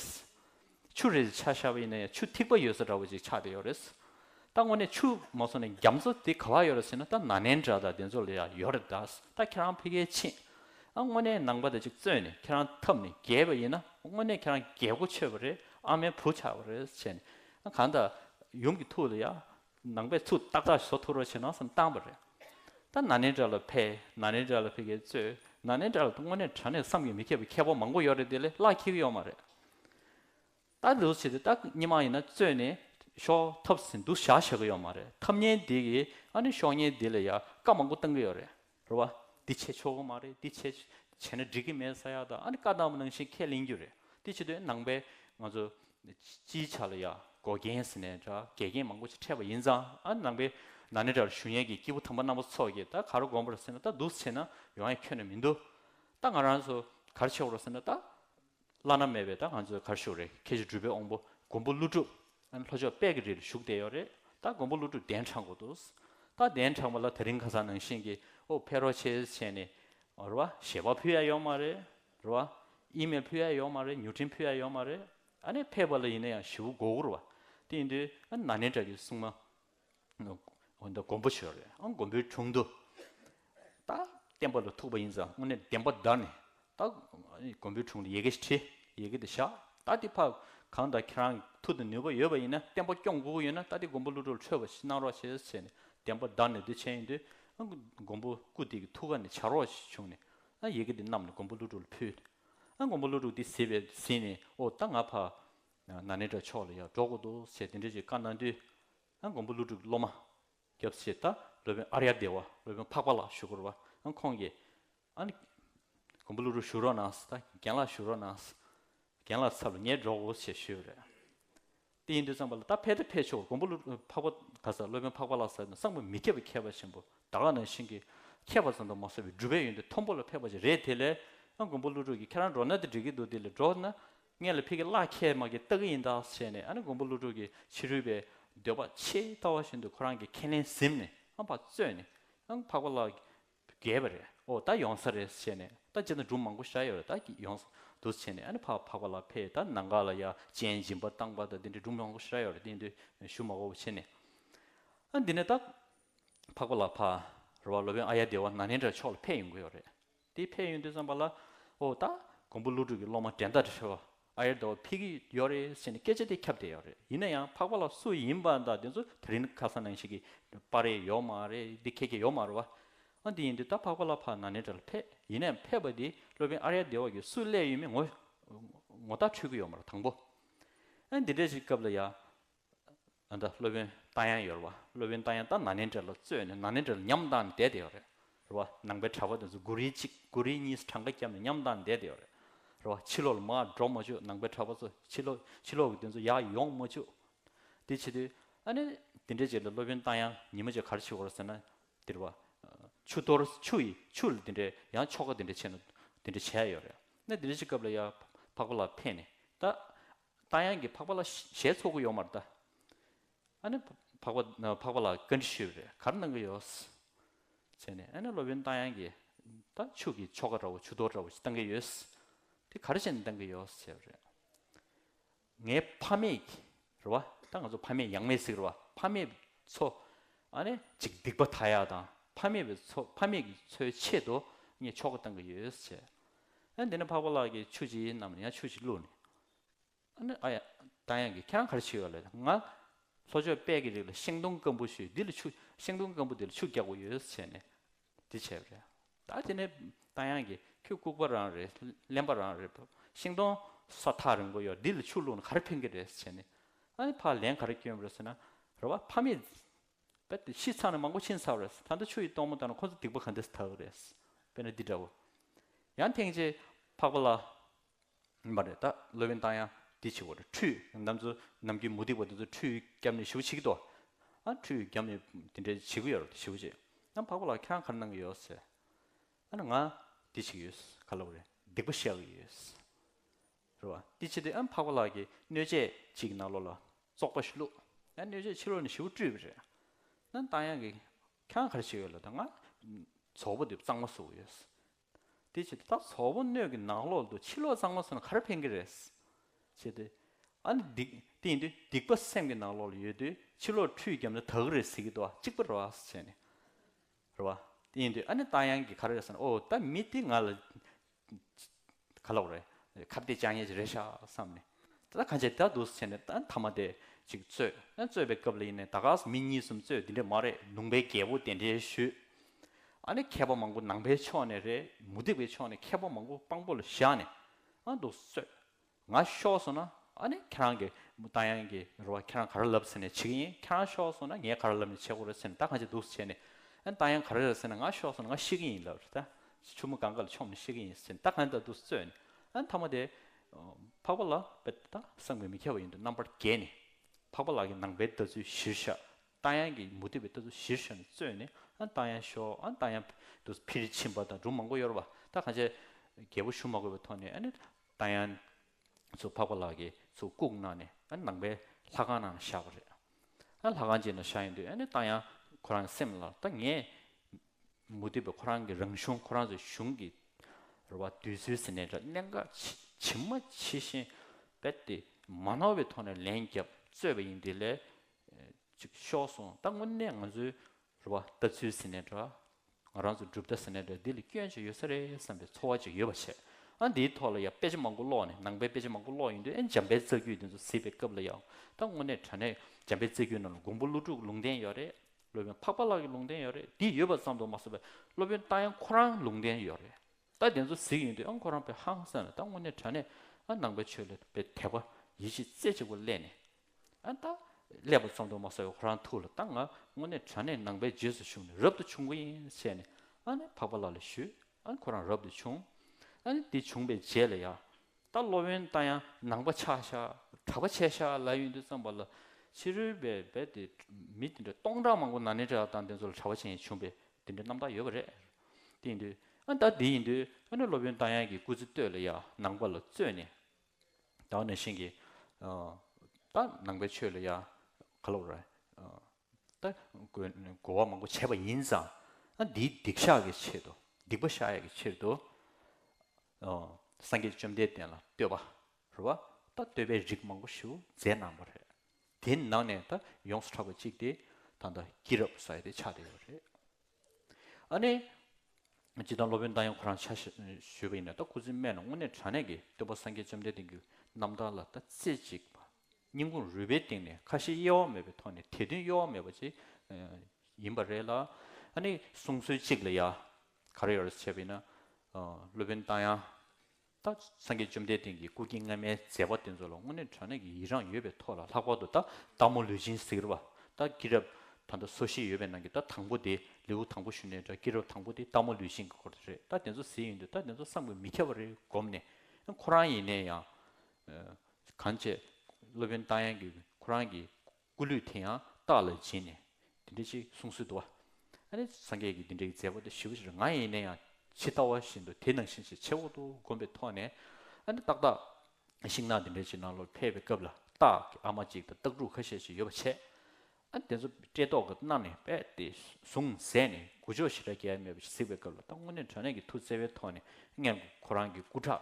ཆུ་རེད་ཆ་ཤར་བའི་ནས་ཆུ་ཐིགས་པ་ཡོད་ས་འདྲ་བོ་ཅིག་ཆགས་བསྡད་ཡོད་རེད། ད་དངོས་གནས་ཆུ་མ་སོང་ནས་རྒྱ་མཚོ་དེ་ག་ལ་ཡོད་རེད་ཟེར་ན་ད་ན་ནན་འདྲ་དང་དེ་ཚོ་ལ་ཡང་ཡོད་རེད་གདའ། ད་ཁྱེད་རང་ཕི་གའི་ཕྱིན། ཨ་དངོས་གནས་ནང་པ་དེ་ཅིག་བཙོན་ནས་ཁྱེད་རང་འཐབ་ནས་རྒྱལ་བ་ཡིན་ན་དངོས་གནས་ཁྱེད་རང་རྒྱལ་སྒོ་ཆོད་པ་རེད་ཨ་མའི་བུ་ཆགས་པ་རེད་བྱས་ནས་ཨ་གང་ལྟར་ཡུམ་གྱི་ཐུགས་ལ་ཡང་ནང་པའི་ཚུགས་ཏག་ཏག་ཞོ་ཐུར་བ་བྱེད་ནོ་སམ་བཏང་བ་རེད། ད་ན་ནིན་དགྲ་ལ་ཕེ། ན་ནིན་དགྲ་ལ་ཕེ་གེ་གཙོས། ན་ནིན་དགྲ་ལ་དངོས་གནས་དྲ་གནས་བསམ་གྱི་མི་ཁྱབ་པའི་ཁྱད་པོ་མང་པོ་ཡོད་རེད་དེ་ལས་སླ་འཁྱིལ་ཡོད་མ་རེད། ད་ལུས་བྱེད་དེ་ད་སྙི་མ་ཡིན་ན་གཙོས་ནས་ཞོ་ཐབས་ཟིན་འདུག་བཞག་བྱེད་ཀྱི་ཡོད་མ་རེད་ཐབས་ཉན་འདི་གིས་ཨ་ནི་ཞོ་ཉན་འདི་ལས་ཡག་བཀའ་མང་པོ་བཏང་གི་ཡོད་རེད། རེད་བ། འདི་བྱས་ཆོག་གི་མ་རེད་འདི་བྱས། བྱས་ན་འགྲིག་གི་མེད་ས་ཡག་དང་ཨ་ནི་བཀའ་གདམས་ནང་བཞིན་ཁས་ལེན་རྒྱུ་རེད། དེ་བྱེད་དུས་ནང་པའི་ང་ཚོ། སྤྱིའི་ཆ་ལ་ཡ་འགོ་རྒན་ཟེར་ནས་འདྲ་འགལ་རྐྱེན་མང་པོ་ཅིག་འཕྲད་པ་ཡིན་ཙང་ཨ་ནང་པའི་ནང་ནས་འདྲ་ཞུ་ཡན་གྱི་སྐྱེས་བུ་དམ་པ་རྣམ་པ་ཚོ་ཀྱིས་ད་ག་རུ་དགོངས་པ་རེད་ཟེར་ན་ད་འདུག་ཟེར་ན་ཡོང་ཡ་ཁྱོན་ནས་མི་འདུག་ད་ང་རང་ཚོ་ག་རུ་ཆས་པ་རོ་ཟེར་ན་ད། བླ་ན་མེད་པའི་ད་ང་ཚོའི་གར་བཞུགས་རེད་ཁྱེད་ཀྱི་འགྲུལ་པའི་དབོང་པོ་མགོན་པོ་ཀླུ་སྒྲུབ་ལྷོ་ཕྱོགས་དཔལ་གྱི་རི་ལ་བཞུགས་བསྡད་ཡོད་རེད་ད་མགོན་པོ་ཀླུ་སྒྲུབ་གདན་དྲངས་དགོས་འདུག་ད་གདན་དྲངས་པ་ལ་ད་རིང་ཁ་སང་ནང་བཞིན་གྱི་ཨོ་བྷེ་རོ་ཆེ་ཆེ་ནས་རེད་བ་ཞལ་པ་ཕུལ་ཡ་ཡོད་མ་རེད་རེད་བ་ཨི་མེལ་ཕུལ་ཡ་ཡོད་མ་རེད་མྱུར་འཕྲིན་ཕུལ་ཡ་ཡོད་མ་རེད་ཨ་ནས་ཕེབས་པ་ལ་ཡིན་ན་ཡང་བཞི་བོ་མགོ་བོར་བ་དེ་ཡིན་དུས་ཨ་ན་ནེ་བཀྲ་ཀྱི་སྲུང་མ། འོན་ཏེ་མགོན་པོ་ཆེ་རེད་ཨང་མགོན་པོའི་དྲུང་དུ། ད་བསྟན་པ་ལ་ཐུག་པ་ཡིན་ཙང་དངོས་གནས་བདེན་པ་བདར་ནས་ད་མགོན་པོའི་དྲུང་དུ་ཡེ་གེ་ཞིག་ཁྲིད་ཡེ་གེ་དེ་བཞག་ད་དེ་ཕར་གང་ལྟར་ཁྱེད་རང་ཐུགས་དང་ནུས་པ་ཡོད་པ་ཡིན་ན་བསྟན་པ་སྐྱོང་དགོས་ཀྱི་ཡོད་ན་ད་དེ་མགོན་པོ་ཀླུ་སྒྲུབ་ཆོས་པ་ཞིག་གནང་རོགས་བྱས་ཟེར་ནས་བདེན་པ་བདར་ནས་དེ་བྱས་ཡིན་དུས་ཨང་མགོན་པོ་སྐུ་སྟེགས་ཀྱི་ཐུགས་ཀ་ནས་བྱ་རོགས་ཞིག་བྱུང་ནས་ཨང་ཡེ་གེ་དེ་བསྣམས་ནས་མགོན་པོ་ཀླུ་སྒྲུབ་ལ་ཕུལ། ཨང་མགོན་པོ་ཀླུ་སྒྲུབ་དེ་ཟེར་བས་ཟིན་ནས་ཨོ་ད་ང་ཕར་ན་ནེ་དྲ་ཕྱོགས་ལ་ཡར་འབྲོག་གོ་འདུག་ཟེར་དེ་འདྲའི་ཅིག་བཀའ་གནང་དུས། མགོན་པོ་ཀླུ་སྒྲུབ་ཀྱི་སློབ་མ། སྐྱབས་སེ་རྟ་སློབ་དཔོན་ཨརྱ་སྡེ་བ་སློབ་དཔོན་འཕགས་པ་ལགས་ཞུ་སྒོར་བ། ཁོང་གིས། མགོན་པོ་ཀླུ་སྒྲུབ་ཞུ་རོགས་གནང་ཟེར་ད་རྒན་ལགས་ཞུ་རོགས་གནང་ཟེར། རྒན་ལགས་ཚབ་ལ་ངས་འབྲོག་གོ་ཞེས་ཞུས་པ་རེད། དེ་ཡིན་དུས་ཙང་པ་ལ་ད་ཕེབས་ད་ཕེབས་ཆོག་མགོན་པོ་ཀླུ་འཕགས་པ་ག་ས་སློབ་དཔོན་འཕགས་པ་ལགས་ཟེར་ནས་སང་ཕོད་མི་ཁྱད་པར་མཁས་པ་ཆེན་པོ་དར་ཁ་ནང་བཞིན་གྱི་མཁས་པ་ཙམ་དུ་མ་བཟོ་བའི་སྒྲུབ་པའི་ཡོན་ཏན་མཐོན་པོ་ལ་ཕེབས་པ་ཅིག་རེད་དེ་ལས། མགོན་པོ་ཀླུ་སྒྲུབ་ཀྱིས་ཁྱེད་རང་འབྲོག་ན་དེ་འགྲིག་གི་འདུག་དེ་ལས་འབྲོག་ན་ངས་ལ་ཕི་གི་གླགས་ཁྱེད་དམག་གིས་བལྟ་གི་ཡིན་དཱགས་བྱས་ནས་ཨ་ནི་མགོན་པོ་ཀླུ་སྒྲུབ་ཀྱི་ཕྱི་རོལ་པའི་འདོད་པ་ཆེས་ལྟ་བ་བཞིན་དུ་ཁོ་རང་གི་ཁས་ལེན་གཟིམས་ནས་ཨང་བག་བཙོས་ནས་ཨང་འཕགས་པ་ལ་བརྒལ་བ་རེད་ཨོ་ད་ཡོང་ས་རེད་བྱས་ནས་ད་ཇི་ལྟར་འབྲུ་མང་པོ་བཞག་ཡོད་རེད་ད་ཀྱིས་ཡོང་ས་འདུག་བྱས་ནས་ཨ་ནི་ཕ་འཕགས་པ་ལ་ཕེ་ད་ནང་ག་ལ་ཡ་ཅན་སྦྱིན་པ་བཏང་པ་ད་འདི་འདྲའི་འབྲུ་མང་པོ་བཞག་ཡོད་རེད་འདི་འདི་ཞུ་མ་གོ་བྱས་ནས་ཨ་འདི་ནས་ད་འཕགས་པ་ལ་ཕ་ར་བ་ལོ་བོན་ཨ་ཡ་སྡེ་བ་ན་ནིན་དྲ་ཕྱོགས་ལ་ཕེ་ཡོང་གི་ཡོད་རེད། དེའི་ཕས་ཡོན་ཏན་བསམ་པ་ལ། ཨོ་ད། ཀོང་པོ་ཀླུ་སྒྲུབ་ཀྱི་སློབ་མ་འགྲན་ཟླ་རེ་ཧྲི་བ་ཨ་ཡེར་ཟླ་བ་ཕིག་གི་ཡོད་རེད་ཟེར་ནས་སྐད་ཆ་དེ་ཁྱབ་བསྡད་ཡོད་རེད་ཡིན་ན་ཡང་འཕགས་པ་ལ་སུ་ཡིན་པ་དང་དེ་ཚོ་དེ་རིང་ཁ་སང་ནང་ཞིག་གི་པར་རེད་ཡོད་མ་རེད་འདི་ཁྱེད་ཀྱི་ཡོད་མ་རེད་བ། ཨ་འདི་ཡིན་དུས་ད་འཕགས་པ་ལ་ཕ་ན་ནེ་དྲ་ལ་ཕེབས་ཡིན་ན་ཡང་ཕེབས་པ་དེ་སློབ་དཔོན་ཨ་རེ་ཡ་ཟླ་བ་ཀྱི་སུ་སླེབས་ཡོད་མེད་ངོ་ངོ་ཐག་ཆོད་ཀྱི་ཡོད་མ་རེད་དང་པོ། ཨ་འདི་འདྲ་ཞིག་སྐབས་ལ་ཡ། ཨ་མྲ་སློབ་དཔོན་རྟ་ཡང་ཡོད་རེད་བ། སློབ་དཔོན་རྟ་ཡང་རྟ་ནཱ་ལེནྡྲའི་ལོ་བཙོས་ནས་ནཱ་ལེནྡྲའི་ལོ་ཉམས་བཏང་ནས་བསྡད་དེ་ཡོད་རེད་རེད་བ། ནང་པའི་གྲྭ་པ་དེ་ཚོ་དགུ་རེ་གཅིག་དགུ་རེ་གཉིས་གྲངས་ཀ་བརྒྱབ་ནས་ཉམས་བཏང་ནས་བསྡད་དེ་ཡོད་རེད་རེད་བ། ཕྱི་ལོག་ལ་མ་འགྲོ་མ་བྱོས་ནང་པའི་གྲྭ་པ་ཚོ་ཕྱི་ལོག་ཕྱི་ལོག་གི་དེ་ཚོ་ཡག་ཡོང་མ་བྱོས། དེ་བྱེད་དུས་ཨ་ནི་དེ་འདྲས་བྱས་ལ་སློབ་དཔོན་རྟ་ཡང་ཉིན་མ་བྱས་གར་ཕྱི་བར་ཟེར་ན་དེ་རེད་བ། ཆུ་གཏོར་ཆུ་ཡི་ཆུ་ལ་དེ་འདྲས་ཡང་ཆོ་ག་དེ་འདྲས་བྱས་ན་དེ་འདྲས་བྱས་ཡོད་རེད། ན་དེ་འདྲས་བྱས་སྐབས་ལ་ཡང་འཕགས་པ་ལ་ཕེབས་ནས་ད་རྟ་དབྱངས་ཀྱིས་འཕགས་པ་ལ་ཞལ་ཚོགས་ཀྱི་ཡོག་མར་བལྟ། ཨ་ནི། འཕགས་པ་ལ་བཀའ་འདྲི་ཞུས་པས་གར་གནང་གི་ཡོག། ཟེར་ནས་ཨ་ནི་སློབ་དཔོན་རྟ་དབྱངས་ཀྱིས། ད་ཕྱུགས་ཀྱི་ཆོ་ག་འདྲ་བོ་ཆུ་གཏོར་འདྲ་བོ་ཞིག་གཏང་གི་ཡོད། དེ་གར་བྱས་ནས་གཏང་གི་ཡོག་ཟེར་བ་རེད། ངའི་ཕ་མེས་ཀྱི་རེད་བ། ད་ང་ཚོ་ཕ་མེས་ཡང་མེས་ཟིག་རེད་བ། ཕ་མེས་ཚོ། ཨ་ནི། ཅིག་སྡིག་པ་ད་ཡག་དང་ཕ་མེས་ཀྱི་ཚོའི་ཆེད་དུ་ངས་ཆོ་ག་གཏང་གི་ཡོད་ཟེར། ཨ་ནི་འདི་ནི་འཕགས་པ་ལགས་ཀྱིས་ཆུ་བྱི་ཡིན་ནམ་ཡང་ཆུ་བྱི་བླུགས་ནས། ཨ་ཡ། རྟ་ཡང་གི་ཁྱེད་རང་ག་རེ་བྱེད་ཡོད་ལ་ཡོད། ང། ལྷོ་ཕྱོགས་དཔལ་གྱི་རིགས་ལ་ཤིང་སྡོང་སྐམ་པོ་ཞུས་འདི་ལ་ཆུ། ཤིང་སྡོང་སྐམ་པོ་འདི་ལ་ཆུ་རྒྱག་པ་ཡོད་ས་བྱས་ནས། འདི་བྱས་པ་རེད། ད་དེ་ནས། རྟ་ཡང་གི། ཁྱོད་ལྐུགས་པ་རང་རེད། གླེན་པ་རང་རེད། ཤིང་སྡོང། སོ་ཐག་རིང་པོ་ཡོད་འདི་ལ་ཆུ་བླུགས་ན་ག་རེ་ཕན་གི་རེད་ས་བྱས་ནས། ཨ་ནི་ཕར་ལན་ག་རེ་སྐྱོན་པ་རེད་ཟེར་ན། རེ་བ་ཕ་མེས། དཔེར་ཏེ་ཤི་ཚར་ན་མང་པོ་ཕྱིན་ཚར་བ་རེད། ད་ལྟ་ཆུ་ཡི་སྟོང་མོ་བཏང་ན་ཁོ་ཚོ་སྡིག་པ་ག་འདི་ས་ཐག་གི་རེད། དཔེར་ན་འདི་འདྲ་བོ། ཡང་ཐེངས་རྗེས། འཕགས་པ་ལགས། ཡིན་པ་རེད་ད་སློབ་ཡོན་བཏང་ཡང་འདི་ཆེ་བོ་རེད་ཁྲུས་ནམ་ཚོ་ནམ་གྱི་མུ་ཏིག་པ་འདི་ཚོ་ཁྲུས་རྒྱབ་ནས་ཞུ་བྱེད་ཀྱི་འདུག་ཨ་ཁྲུས་རྒྱབ་ནས་འདི་འདྲའི་བྱེད་ཀྱི་ཡོད་རེད་དེ་ཞུ་བྱེད་ཨ་འཕགས་པ་ལགས་ཁྱེད་རང་ག་རེ་གནང་གི་ཡོད་ཟེར་ཨ་ན་ང་འདི་བྱེད་ཀྱི་ཡོད་ག་ལ་བ་རེད་སྡིག་པ་བཤགས་ཀྱི་ཡོད་ཟེར་རེད་བ་འདི་བྱེད་དེ་ཨ་འཕགས་པ་ལགས་ཀྱི་སྣོད་ཆས་གཅིག་གི་ནང་ལོགས་ལ་བཙོག་པ་ཞིག་བླུགས་ཨ་སྣོད་ཆས་ཕྱི་ལོགས་ནས་ཞུ་བཀྲུས་པ་རེད་ཨ་བཏང་ཡང་གི་ཁྱེད་རང་ག་རེ་བྱེད་ཀྱི་ཡོད་ལ་ད་ང་བཙོག་པ་འདི་གཙང་མ་བཟོ་གི་ཡོད་ཟེར་དེ་བྱས་ཏེ་ད་ཟོག་པོ་སྣོད་ཀྱི་ནང་ལོག་དུ་ཕྱི་ལོག་གཙང་མ་སོང་ན་ག་རེ་ཕན་གྱི་རེད། བྱས་ཏེ། ཨ་ནི་སྡིག་དེ་ཡིན་དུས་སྡིག་པ་སེམས་ཀྱི་ནང་ལོག་ལ་ཡོད་དུས་ཕྱི་ལོག་ཁྲུས་བརྒྱབ་ན་དག་གི་རེད་ཟེར་གྱི་འདུག་ཨ་གཅིག་པུ་རེད་བ་བྱས་ནས། རེད་བ། དེ་ཡིན་དུས་ཨ་ནི་རྟ་ཡང་གི་ག་རེ་རེད་ཟེར་ན་ཨོ་ད་མི་དེ་ང་ལ་ག་ལོག་རེད། ཁ་བདེ་ལྕག་ཉལ་གྱི་རེད་ཤག་བསམ་ནས། ད་ད་གང་བྱས་ད་འདུག་བྱས་ནས་ད་མཐའ་མ་དེ་ཅིག་རྩོད། རྩོད་པའི་སྐབས་ལ་ཡིན་ནས་ད་ག་ས་མི་གཉིས་གསུམ་རྩོད་དེ་འདྲས་མ་རེད་ལུང་པའི་རྒྱལ་པོ་དེ་འདྲས་ཞུས། ཨ་ནི་མཁས་པ་མང་པོ་ནང་པའི་ཕྱོགས་ནས་རེད་མུ་སྟེགས་པའི་ཕྱོགས་ནས་མཁས་པ་མང་པོ་དཔང་པོ་ལ་བཞག་ནས་ཨ་འདུག་གསོད་ང་ཤོག་གསུངས་ན་ཨ་ནི་ཁྱེད་རང་གི་མུ་ཏང་ཡང་གི་རུ་བ་ཁྱེད་རང་ག་རེ་ལབ་ཟེར་ནས་བྱེད་ཀྱི་ཡིན་ཁྱེད་རང་ཤོག་གསུངས་ན་ངས་ག་རེ་ལབ་ནས་བྱེད་དགོས་རེད་ཟེར་ནས་ད་གང་བྱེད་འདུག་བྱས་ནས་ཨ་ནི་ཏང་ཡང་ག་རེ་རེད་ཟེར་ན་ང་ཤོག་གསུངས་ན་ང་ཤེས་ཀྱི་ཡིན་ལབ་རེད་ད་ཆུ་མོ་གང་ག་ལ་ཕྱོགས་མིན་ཤེས་ཀྱི་ཡིན་ཟེར་ནས་ད་གང་བྱེད་འདུག་གསོད་ནས་ཨ་ནི་ཐ་མ་དེ་འཕགས་པ་ལགས་པད་ད་སངས་པའི་མི་མཁས་པ་ཡིན་འདུག་རྣམ་པར་རྒྱལ་ནས་འཕགས་པ་ལགས་ཀྱི་ནང་པའི་ལྟ་ཚུལ་གཞིར་བཞག་རྟ་ཡང་གི་མུ་ཏིག་པའི་ལྟ་ཚུལ་གཞིར་བཞག་ནས་བཙོས་ནས་རྟ་ཡང་ཤོག་རྟ་ཡང་དུ་ཕིར་ཕྱིན་པ་དང་སྦྲུམ་མང་པོ་གཡོར་བ་ད་གང་ཆེ། རྒྱལ་པོ་ཞུ་མ་དགོས་པའི་ཐོག་ནས་རྟ་ཡང་ཚུར་འཕགས་པ་ལགས་ཀྱིས་ཚུར་བཀུག་གནང་ནས་ནང་པའི་ལྷ་ཁང་ནང་བཞག་པ་རེད། ལྷ་ཁང་གཅིག་ནང་བཞག་ཡོང་དུས་རྟ་ཡང་ཁོ་རང་གི་སེམས་ལ་ད་ངས་མུ་ཏིག་པ་ཁོ་རང་གི་རང་གཞུང་ཁོ་རང་ཚོའི་གཞུང་གི་རུ་བ་དུས་ཚོད་ཟེར་ནས་འདྲ་གནད་འགག་ཇི་མ་ཇི་བཞིན་རྦད་དེ་མ་ནོར་བའི་ཐོག་ནས་ལན་བརྒྱབ་བཙོས་པ་ཡིན་དེ་ལས་ཅིག་ཤོག་སོང་ད་དངོས་གནས་ང་ཚོའི་རེ་བ་ལྟ་ཚུལ་ཟིན་ནས་འདྲ། ང་རང་ཚོ་གྲུབ་ལྟ་ཟིན་ནས་འདྲ་འདི་ལ་སྐྱོན་ཅིག་ཡོད་ས་རེད་བསམ་པའི་ཚོར་བ་ཅིག་ཡོད་པ་བྱས། ཨ་འདིའི་ཐོག་ལ་ཡང་དཔེ་ཆ་མང་པོ་ཀློག་ནས་ནང་པའི་དཔེ་ཆ་མང་པོ་ཀློག་ཡོང་དུས་ཨེ་འཇམ་དཔལ་རྩ་རྒྱུད་འདི་ཚོ་གཟིགས་པའི་སྐབས་ལ་ཡང་ད་དངོས་གནས་དྲ་གནས་འཇམ་དཔལ་རྩ་རྒྱུད་རྣམས་ལ་འགོང་པོ་ཀླུ་ཕྲུག་ལུང་བསྟན་ཡོད་རེད། སློབ་དཔོན་འཕགས་པ་ལགས་ཀྱི་ལུང་བསྟན་ཡོད་རེད་འདི་ཡོད་པ་ཙམ་དུ་མ་བཟོ་བས་སློབ་དཔོན་རྟ་ཡང་ཁོ་རང་ལུང་བསྟན་ཡོད་རེད་ད་དེ་ཚོ་གཟིགས་ཡོང་དུས་ཨ་ཁོ་རང་བས་ཧང་སངས་ནས་ད་དངོས་གནས་དྲ་གནས་ཨ་ནང་པའི་ཆོས་ལ་བས་དད་པ་ཡིད་ཆེས་རྩེ་གཅིག་པོ་སླེས་ནས་ཨ་མདའ། ཀླད་པ་བཙོང་དུ་མ་ཟ་བའི་ཧོ་རང་ཐུགས་ལ་བཏང་ང་དངོས་གནས་དྲ་གནས་ནང་པའི་རྗེས་སུ་ཞུགས་ནས་རབ་ཏུ་བྱུང་གི་ཡིན་བྱས་ནས་ཨ་ནི་འཕགས་པ་ལ་ལ་ཞུས་ཨ་ནི་ཁོ་རང་རབ་ཏུ་བྱུང་ཨ་ནི་དེ་བྱུང་པའི་རྗེས་ལ་ཡ། ད་སློབ་ཡོན་བཏང་ཡང་ནང་པ་ཆགས་ཤ་གྲགས་པ་ཆད་ཤ་ལ་ཡོན་དུ་བརྩམས་པ་ལ་ཕྱི་རོལ་པའི་རྦད་དེ་མི་དེ་འདྲ་སྟོང་ཕྲག་མང་པོ་ན་ནི་དྲ་དང་དེ་ཚོ་ལ་གྲ་བ་ཅན་ཡིན་བྱུང་པས་དེ་འདྲའི་རྣམ་དག་ཡོད་པ་རེད་དེ་ཡིན་དུས་ཨ་མདའ་དེ་ཡིན་དུས་ཨ་ནི་སློབ་ཡོན་བཏང་ཡང་གི་སྐུ་ཚེ་སྟོད་ལ་ཡ་ནང་པ་ལ་བཙོས་ནས་བདག་ནི་ཤིང་གི་ད་ནང་པའི་ཆོས་ལ་ཡང་ག་ལོ་རེད། ད་གོ་བ་མང་པོ་བྱས་པ་ཡིན་ཙང་ཨ་འདིའི་སྡིག་བཤགས་ཀྱི་ཆེད་དུ་སྡིག་པ་བཤགས་ཡས་ཀྱི་ཕྱིར་དུ་སངས་རྒྱས་བཅོམ་ལྡན་འདས་ལ་བསྟོད་པ་རེད་བ། ད་བསྟོད་པའི་རིགས་མང་པོ་ཞིག་མཛད་གནང་བ་རེད། དེའི་ནང་ནས་ད་ཡོངས་སུ་གྲགས་པ་གཅིག་དེ་ད་ལྟ་སྐྱིད་རབ་ས་ཡ་དེ་ཆགས་བསྡད་ཡོད་རེད། ཨ་ནེ། ཅི་དང་སློབ་དཔོན་བདག་ཡང་ཁོ་རང་ཕྱག་བཞེས་པ་ཡིན་ནོ་ད་སྐུ་ཚེ་སྨད་ན་དངོས་གནས་དྲང་གནས་ཀྱི་སྟོན་པ་སངས་རྒྱས་བཅོམ་ལྡན་འདས་ཀྱི་རྣམ་ཐར་ལ་ད་རྩེ་གཅིག་པ་སྙིང་ཁུངས་རུས་པའི་གཏིང་ནས་ཁ་ཞེ་གཡེལ་བ་མེད་པའི་ཐོག་ནས་དད་འདུན་གཡོ་བ་མེད་པ་ཅིག་ཡིན་པ་རེད་ལ། ཨ་ནེ། གསུང་སྲོལ་གཅིག་ལ་ཡ། ག་རེ་ཡོད་རེད་བྱས་པ་ཡིན་ན། སློབ་དཔོན་བདག་ཡང། ལྟ། སངས་རྒྱས་བཅོམ་ལྡན་འདས་ཀྱི་སྐུ་དཀྱིལ་སྔ་མའི་མཛད་པ་དེ་ཚོ་ལ་དངོས་གནས་དྲན་ནས་ཀྱི་ཡི་རངས་ཡོད་པའི་ཐོག་ལ་ལྷག་པར་དུ་ལྟ་སྟག་མོ་ལུས་སྦྱིན་ཟེར་བ་ལྟ་སྐྱིད་རབ་ད་ལྟ་སོ་བཞི་ཡོད་པའི་ནང་གི་ལྟ་དང་པོ་དེ་ལེའུ་དང་པོ་ཞུ་ནས་འདྲ་སྐྱིད་རབ་དང་པོ་དེ་ལྟ་མོ་ལུས་སྦྱིན་གྱི་སྐོར་དེ་རེད་ལྟ་དེ་ཚོ་ཟེར་ཡོང་དུས་ལྟ་དེ་ཚོ་བསམ་དགོས་མི་ཁྱབ་པ་རེད་བསྒོམས་ནས་ཁོ་རང་ཡིན་ནས་ཡང། གང་བྱས། སློབ་དཔོན་རྟ་དབྱངས་ཀྱིས་ཁོ་རང་གི་སྐུ་ལུས་དེ་ཡང་རྟགས་ལ་བྱིན་ནས། འདི་འདྲ་ཞིག་གསུང་སྲོལ་དུ། ཨ་ནི་སངས་རྒྱས་ཀྱི་འདི་འདྲའི་མཛད་པ་དེ་ཞི་བ་ཞིག་ང་ཡིན་ན་ཡང་ཇི་ལྟ་བ་བཞིན་དུ་དེ་ནང་བཞིན་ཞེས་ཆེ་འོག་ཏུ་བསྒོམས་པའི་ཐོག་ནས། ཨ་ནི་ཏག་ཏག། ཤིང་ནགས་འདི་འདྲ་ཞིག་ནང་ལོག་ཕེབས་པའི་སྐབས་ལ་སྟག་གི་ཨ་མ་གཅིག་དང་སྟག་ཕྲུག་ཁ་ཤས་ཤིག་ཡོད་པ་ཆད། ཨ་ནི་དེ་ཚོ་བཀྲེས་ལྟོགས་ཀྱིས་མནར་ནས་དཔལ་དེ་བཟུང་ཟས་ནི་དགུ་ཕྱོགས་ཞི་དྲག་རྒྱལ་མོས་པ་ཞིག་གཟིགས་པའི་སྐབས་ལ་ཏག་སྔོན་ནས་དྲ་གནས་ཀྱི་ཐུགས་བརྩེ་བའི་ཐོག་ནས་མངལ་སྒོ་ཁོ་རང་གི་སྐུ་དྲག་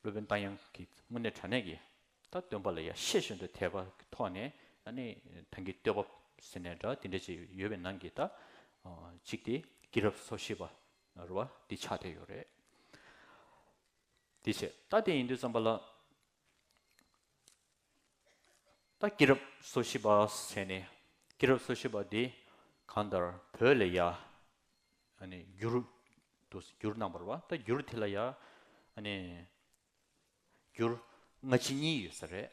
སློབ་དཔོན་རྟ་དབྱངས་ཀྱིས་དངོས་གནས་དྲ་གནས་ཀྱིས་ད་སྟོན་པ་ལ་ཡ་ཤས་ཤོད་འདོད་ཐལ་བ་གི་ཐོག་ནས་ནི་ཐང་གི་ལྟོས་བབ་ཟེར་ནས་འདྲ་འདི་འདྲ་ཅིག་ཡོད་པའི་ནང་གི་ད་ཅིག་དེ་སྐྱིད་རབས་སོ་ཤེས་པ་རུ་བ་འདི་ཆགས་བསྡད་ཡོད་རེད། དེ་བྱས་ད་དེ་ཡིན་དུས་བརྩམས་པ་ལ། ད་སྐྱེས་རབས་སོ་བཞི་པ་ཟེར་ནས་སྐྱེས་རབས་སོ་བཞི་པ་དེ་གང་ལྟར་བོད་ལ་ཡ་ནི་འགྱུར་འདུག་སེ་འགྱུར་རྣམ་པར་བ་ད་འགྱུར་དེ་ལ་ཡ་ནི་འགྱུར་སྔ་ཕྱི་གཉིས་ཡོད་ས་རེད་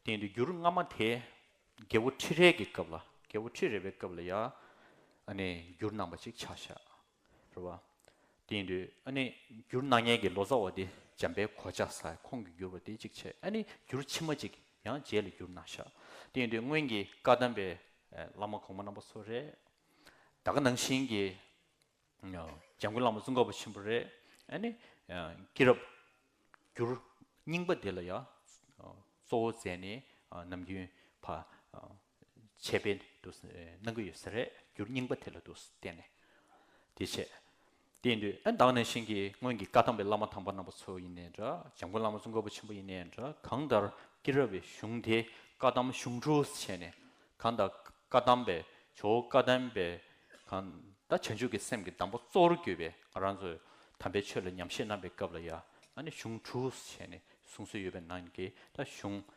དེ་འདུག་འགྱུར་སྔ་མ་དེ་རྒྱལ་བོ་ཁྲི་རལ་གྱི་སྐབས་ལ་རྒྱལ་བོ་ཁྲི་རལ་བའི་སྐབས་ལ་ཡ་ནི་འགྱུར་རྣམ་པ་ཅིག་ཆགས་ཤག་རེད་བ། དེ་ཡིན་དུས་ཨ་ནི་འགྱུར་སྣང་བརྙན་གྱི་ལོ་ཙཱ་བ་དེ་འཇམ་པའི་གོ་ཆ་ཟ་ཁོང་གིས་འགྱུར་བ་དེ་གཅིག་བྱས་ཨ་ནི་འགྱུར་ཕྱི་མ་གཅིག་ཡང་རྗེས་ལ་འགྱུར་ན་ཤག་དེ་ཡིན་དུས་སྔོན་གྱི་བཀའ་གདམས་པའི་བླ་མ་གོང་མ་རྣམ་པ་ཚོ་རེད་ད་ག་ནང་བཞིན་གྱི་འཇམ་མགོན་བླ་མ་ཙུང་ཁ་པ་ཆེན་པོ་རེད་ཨ་ནི་སྐྱེས་རབས་འགྱུར་རྙིང་པ་དེ་ལ་ཡང་གཙོ་བོ་མཛད་ནས་ནམ་རྒྱུན་བ། བྱས་པས་འདུ་སྣང་གི་ཡོད་ས་རེད་འགྱུར་རྙིང་པ་དེ་ལ་འདུ་བསྟན་ནས་དེ་བྱས། དེ་འདུས་ཨེ་བདག་ནས་གཤེན་གྱི་སྔོན་གྱི་བཀའ་ཐང་པའི་བླ་མ་དམ་པ་རྣམ་པ་ཚོ་ཡིན་ནའི་འདྲ་འཇམ་མགོན་བླ་མ་གཙུག་འགོ་པ་ཆེན་པོ་ཡིན་ནའི་འདྲ་གང་ལྟར་སྐྱེས་རབས་པའི་གཞུང་དེ་བཀའ་གདམས་གཞུང་དྲུག་བྱས་ནས་གང་ལྟར་བཀའ་གདམས་པའི་ཇོ་བོ་བཀའ་གདམས་པའི་གང་ལྟར་བྱང་ཆུབ་ཀྱི་སེམས་ཀྱི་གདམས་པ་གཙོ་བོར་གྱུར་པའི་ང་རང་ཚོའི་དམ་པའི་ཆོས་ལ་ཉམས་བཞེས་གནང་པའི་སྐབས་ལ་ཡང་ན་གཞུང་དྲུག་བྱས་ནས་གསུང་སྲོལ་ཡོད་པའི་ནང་གི་ད་གཞུང་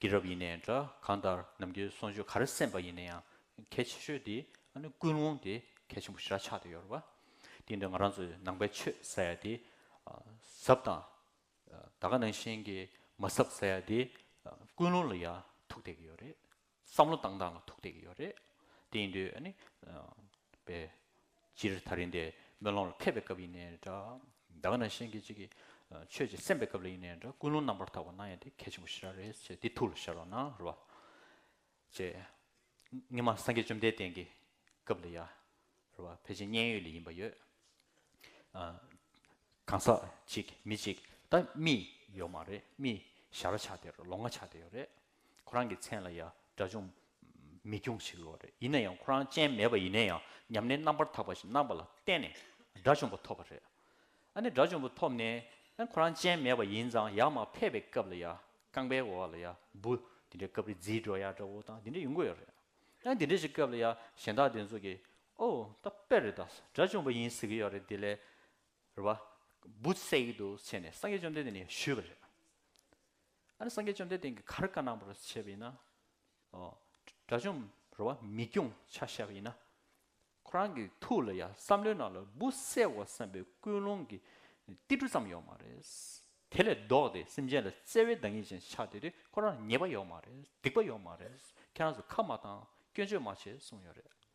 ཀྱི་རབས་ཡིན་ནའི་འདྲ་གང་ལྟར་ནམ་རྒྱུན་གསོལ་མཆོད་ག་རེ་གསན་པ་ཡིན་ན་ཡང་གལ་ཆེ་ཤོས་དེ་ཨ་ནི་ཀུན་སློང་དེ་གལ་ཆེན་པོ་ཞེ་དྲག་ཆགས་ཏེ་ཡོད་རེད་བ། དེ་ཡིན་དུས་ང་རང་ཚོའི་ནང་པའི་ཆོས་ཟེར་ཡ་དེ་ཟབ་དང། ད་ག་ནང་བཞིན་གྱི་མ་ཟབ་ཟེར་ཡ་དེ་ཀུན་སློང་ལ་ཡང་ཐུག་བསྡད་ཀྱི་ཡོད་རེད། བསམ་བློ་བཏང་སྟངས་ལ་ཐུག་བསྡད་ཀྱི་ཡོད་རེད། དེ་ཡིན་དུས་ནི། པའི། སྤྱིར་ད་རིང་འདི་སྨོན་ལམ་ལ་ཕེབས་པའི་སྐབས་ཡིན་ནའི་འདྲ། ད་ག་ནང་བཞིན་གྱི་ཅིག་གི། ཆོས་ཀྱི་སེམས་པའི་སྐབས་ལ་ཡིན་ནའི་འདྲ་ཀུན་སློང་རྣམ་པར་དག་པ་སྣང་ཡང་དེ་གལ་ཆེན་པོ་ཞིག་རག་རེད་ཅེས་འདི་ཐུགས་ལ་ཤར་བ་ན་རེད་བ། ཅེས། སྔོན་མ་སངས་རྒྱས་བཅོམ་ལྡན་འདས་ཀྱི། སྐབས་ལ་ཡར། རེད་བ་ཕལ་ཆེར་མཉན་ཡོད་ལས་ཡིན་པ་ཡོད། གང་ཟག་ཅིག་མི་ཅིག་ད་རྨིས་ཡོད་མ་རེད་རྨིས། ཞར་ལ་ཆགས་བསྡད་རེད་ལོ་ལྔ་ཆགས་བསྡད་ཡོད་རེད། ཁོ་རང་གི་མཚན་ལ་ཡང་དགྲ་ཅུང་མི་སྐྱོང་ཞིག་ཡོད་རེད་ཡིན་ན་ཡང་ཁོ་རང་སྤྱན་མེད་པ་ཡིན་ན་ཡང་ཉམས་ལེན་རྣམ་པར་དག་པ་ཞིག་གནང་པ་ལ་བརྟེན་ནས་དགྲ་ཆུང་པོ་ཐོབ་པ་རེད་ཨ་ནི་དགྲ་ཆུང་པོ་ཐོབ་ནས་ཁོ་རང་སྤྱན་མེད་པ་ཡིན་ཙང་ཡག་མ་ཕེབས་པའི་སྐབས་ལ་ཡང་རྐང་པའི་འོག་ལ་ཡང་འབུ་དེ་འདྲའི་སྐབས་རི་རྫིའི་སྒྲོ་ཡར་འདྲ་བོ་དང་དེ་འདྲ་ཡོང་གི་ཡོད་རེད་ཨ་དེ་འདྲ་ཞིག་སྐབས་ལ་ཡང་གཞན་དག་དེ་ཚོ་གིས་ཨོ་ད་དཔེ་རེད་ད་དགྲ་ཆུང་པོ་ཡིན་ཟེར་གི་ཡོད་རེད་དེ་ལས་རེད་བ་འབུ་བསད་ཡི་འདུག་ཟེར་ནས་སངས་རྒྱས་བཅོམ་ལྡན་འདས་ནས་ཞུས་པ་རེད། ཨ་ནི་སངས་རྒྱས་བཅོམ་ལྡན་འདས་ཀྱི་གར་དཀར་ནག་པོར་བྱས་པ་ཡིན་ན། དགྲ་བཅོམ་རོལ་བ་མི་སྐྱོང་ཕྱག་བྱ་བ་ཡིན་ན། ཁོ་རང་གི་ཐུགས་ལ་ཡང་བསམ་བློའི་ནང་ལ་འབུ་བསད་བར་བསམ་པའི་ཀུན་སློང་གི་ཏིལ་འབྲུ་ཙམ་ཡོད་མ་རེད། དེ་ལས་ལྡོག་སྟེ་སེམས་ཅན་ལ་བརྩེ་བའི་བདག་ཉིད་ཅན་ཆགས་བསྡད་དུས་ཁོ་རང་ལ་ཉེས་པ་ཡོད་མ་རེད་སྡིག་པ་ཡོད་མ་རེད་ཁྱེད་རང་ཚོ་ཁ་མ་བཏང་སྐྱོན་བརྗོད་མ་བྱེད་གསུངས་ཡོད་རེད།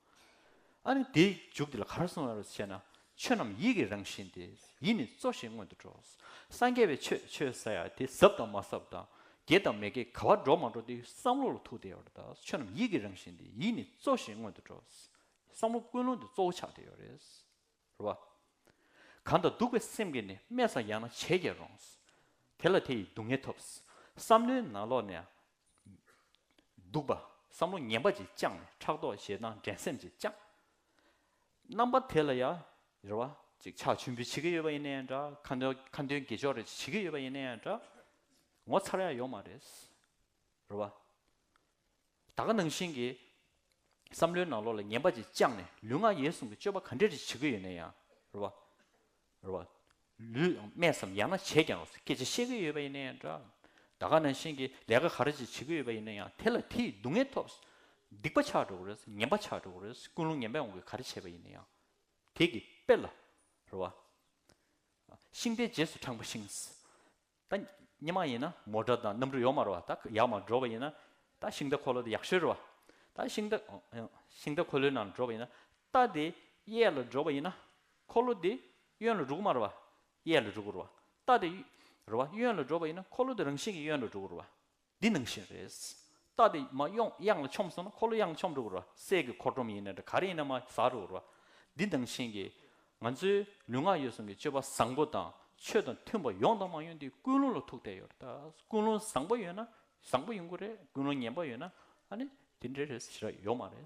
ཨ་ནི་དེའི་མཇུག་དེ་ལ་ག་རེ་གསུང་བར་བྱས་ན། ཆོས་རྣམས་ཡིད་ཀྱི་རང་བཞིན་ཏེ་ཡིད་ནི་གཙོ་ཞིང་སྔོན་དུ་འགྲོ། སངས་རྒྱས་པའི་ཆོས་ཆོས་ཟ་ཡ་དེ་ཟབ་དང་མ་ཟབ་དང་དགེ་དང་མི་དགེ་ག་བ་འགྲོ་མ་འགྲོ་དེ་བསམ་བློ་ལ་ཐུག་དེ་ཡོད་རེད་ད་ཆོས་རྣམས་ཡིད་ཀྱི་རང་བཞིན་ཏེ་ཡིད་ནི་གཙོ་ཞིང་སྔོན་དུ་འགྲོ། བསམ་བློ་ཀུན་སློང་དེ་གཙོ་བོ་ཆགས་དེ་ཡོད་རེད། རེ་བ། གང་དང་སྡུག་པའི་སེམས་ཀྱིས་ནི་སྨྲས་སམ་ཡང་ན་བྱས་ཀྱིས་རུང། དེ་ལ་དེ་ཡིས་སྡུག་བསྔལ་ཐོབ། བསམ་བློའི་ནང་ལོགས་ནས་འདུག་པ། བསམ་བློ་ངན་པ་ཅིག་བཅངས་ནས་ཕྲག་དོག་ཞེ་སྡང་འགྲན་སེམས་ཅིག་བཅངས། རྣམ་པ་དེ་ལ་ཡང་རེ་བ་ཅིག་ཆགས་མཆོད་འབུལ་བྱེད་ཀྱི་ཡོད་པ་ཡིན་ན་ཡང་འདྲ། ཁ་འདོན་ཁ་འདོན་དགེ་སྦྱོར་རེ་ཅིག་བྱེད་ཀྱི་ཡོད་པ་ཡིན་ན་ཡང་འདྲ། ངོ་ཚ་ར་ཡག་ཡོད་མ་རེད། རེ་བ། ད་ག་ནང་བཞིན་གྱི་བསམ་བློའི་ནང་ལོགས་ལ་ངན་པ་ཅིག་བཅངས་ནས་ལུས་ངག་ཡིད་གསུམ་གྱི་སྤྱོད་པ་ག་འདྲ་རེ་ཅིག་བྱེད་ཀྱི་ཡོད་ན་ཡང་རེ་བ། རེད་བ། ལུས་ཡང་སྨད་སམ་ཡང་ན་བྱས་ཀྱང་སྐད་ཆ་བཤད་གི་ཡོད་པ་ཡིན་ན་ཡང་འདྲ། ད་ག་ནང་བཞིན་གྱི་ལས་ཀ་ག་རེ་ཅིག་བྱེད་ཀྱི་ཡོད་པ་ཡིན་ན་ཡང་དེ་ལ་དེ་ཡིས་སྡུག་བསྔལ་ཐོབ། སྡིག་པ་ཆགས་འགྲོ་གི་རེད་ངན་པ་ཆགས་འགྲོ་གི་རེད་ཀུན་སློང་ངན་པའི་འོང་གི་ག་རེ་བྱས་པ་ཡིན་ན་ཡང། དེ་གི་དཔེ་ལ། རེད་བ། ཤིང་རྟའི་རྗེས་སུ་འབྲངས་པ་ཤིང། ད་ཉི་མ་ཡིན་ན་མོ་སྒྲ་དང་གནམ་གྲུ་ཡོག་མར་བ་ད་ཡག་མར་འགྲོ་བ་ཡིན་ན་ད་ཤིང་རྟ་འཁོར་ལོ་དེ་ཡག་ཤོས་རེད་བ་ད་ཤིང་རྟ་ཤིང་རྟ་འཁོར་ལོའི་ནང་ལ་འགྲོ་བ་ཡིན་ན་རྟ་དེ་གཡས་ལ་འགྲོ་བ་ཡིན་ན་འཁོར་ལོ་དེ་གཡོན་ལ་འགྲོ་གི་མ་རེད་བ་གཡས་ལ་འགྲོ་གི་རེད་བ་རྟ་དེ་རེད་བ་གཡོན་ལ་འགྲོ་བ་ཡིན་ན་འཁོར་ལོ་དེ་རང་བཞིན་གྱིས་གཡོན་ལ་འགྲོ་གི་རེད་བ་འདི་ནང་བཞིན་རེད། རྟ་དེ་མ་གཡོགས་གཡང་ལ་ཆོམས་སོང་ན་འཁོར་ལོ་གཡང་ཆོམས་རུག་རོ། སྲས་ཀྱི་འཁོར་སྒྲོམ་ཡིན་ནའི་འདྲ་ག་རེ་ཡིན་ན་མ་ཟ་རུག་རོ། འདི་ནང་བཞིན་གྱི། ང་ཚོའི་ལུས་ངག་ཡོད་གསུམ་གྱི་སྤྱོད་པ་བཟང་པོ་དང་ཆོས་དང་མཐུན་པ་ཡོང་དང་མ་ཡོང་དེ་ཀུན་སློང་ལ་ཐུག་བསྡད་ཡོད་རེད་ད། ཀུན་སློང་བཟང་པོ་ཡོད་ན་བཟང་པོ་ཡོང་གི་རེད་ཀུན་སློང་ངན་པ་ཡོད་ན་ཨ་ནི་དེ་འདྲའི་རེད་ཞེས་ར་ཡོད་མ་རེད།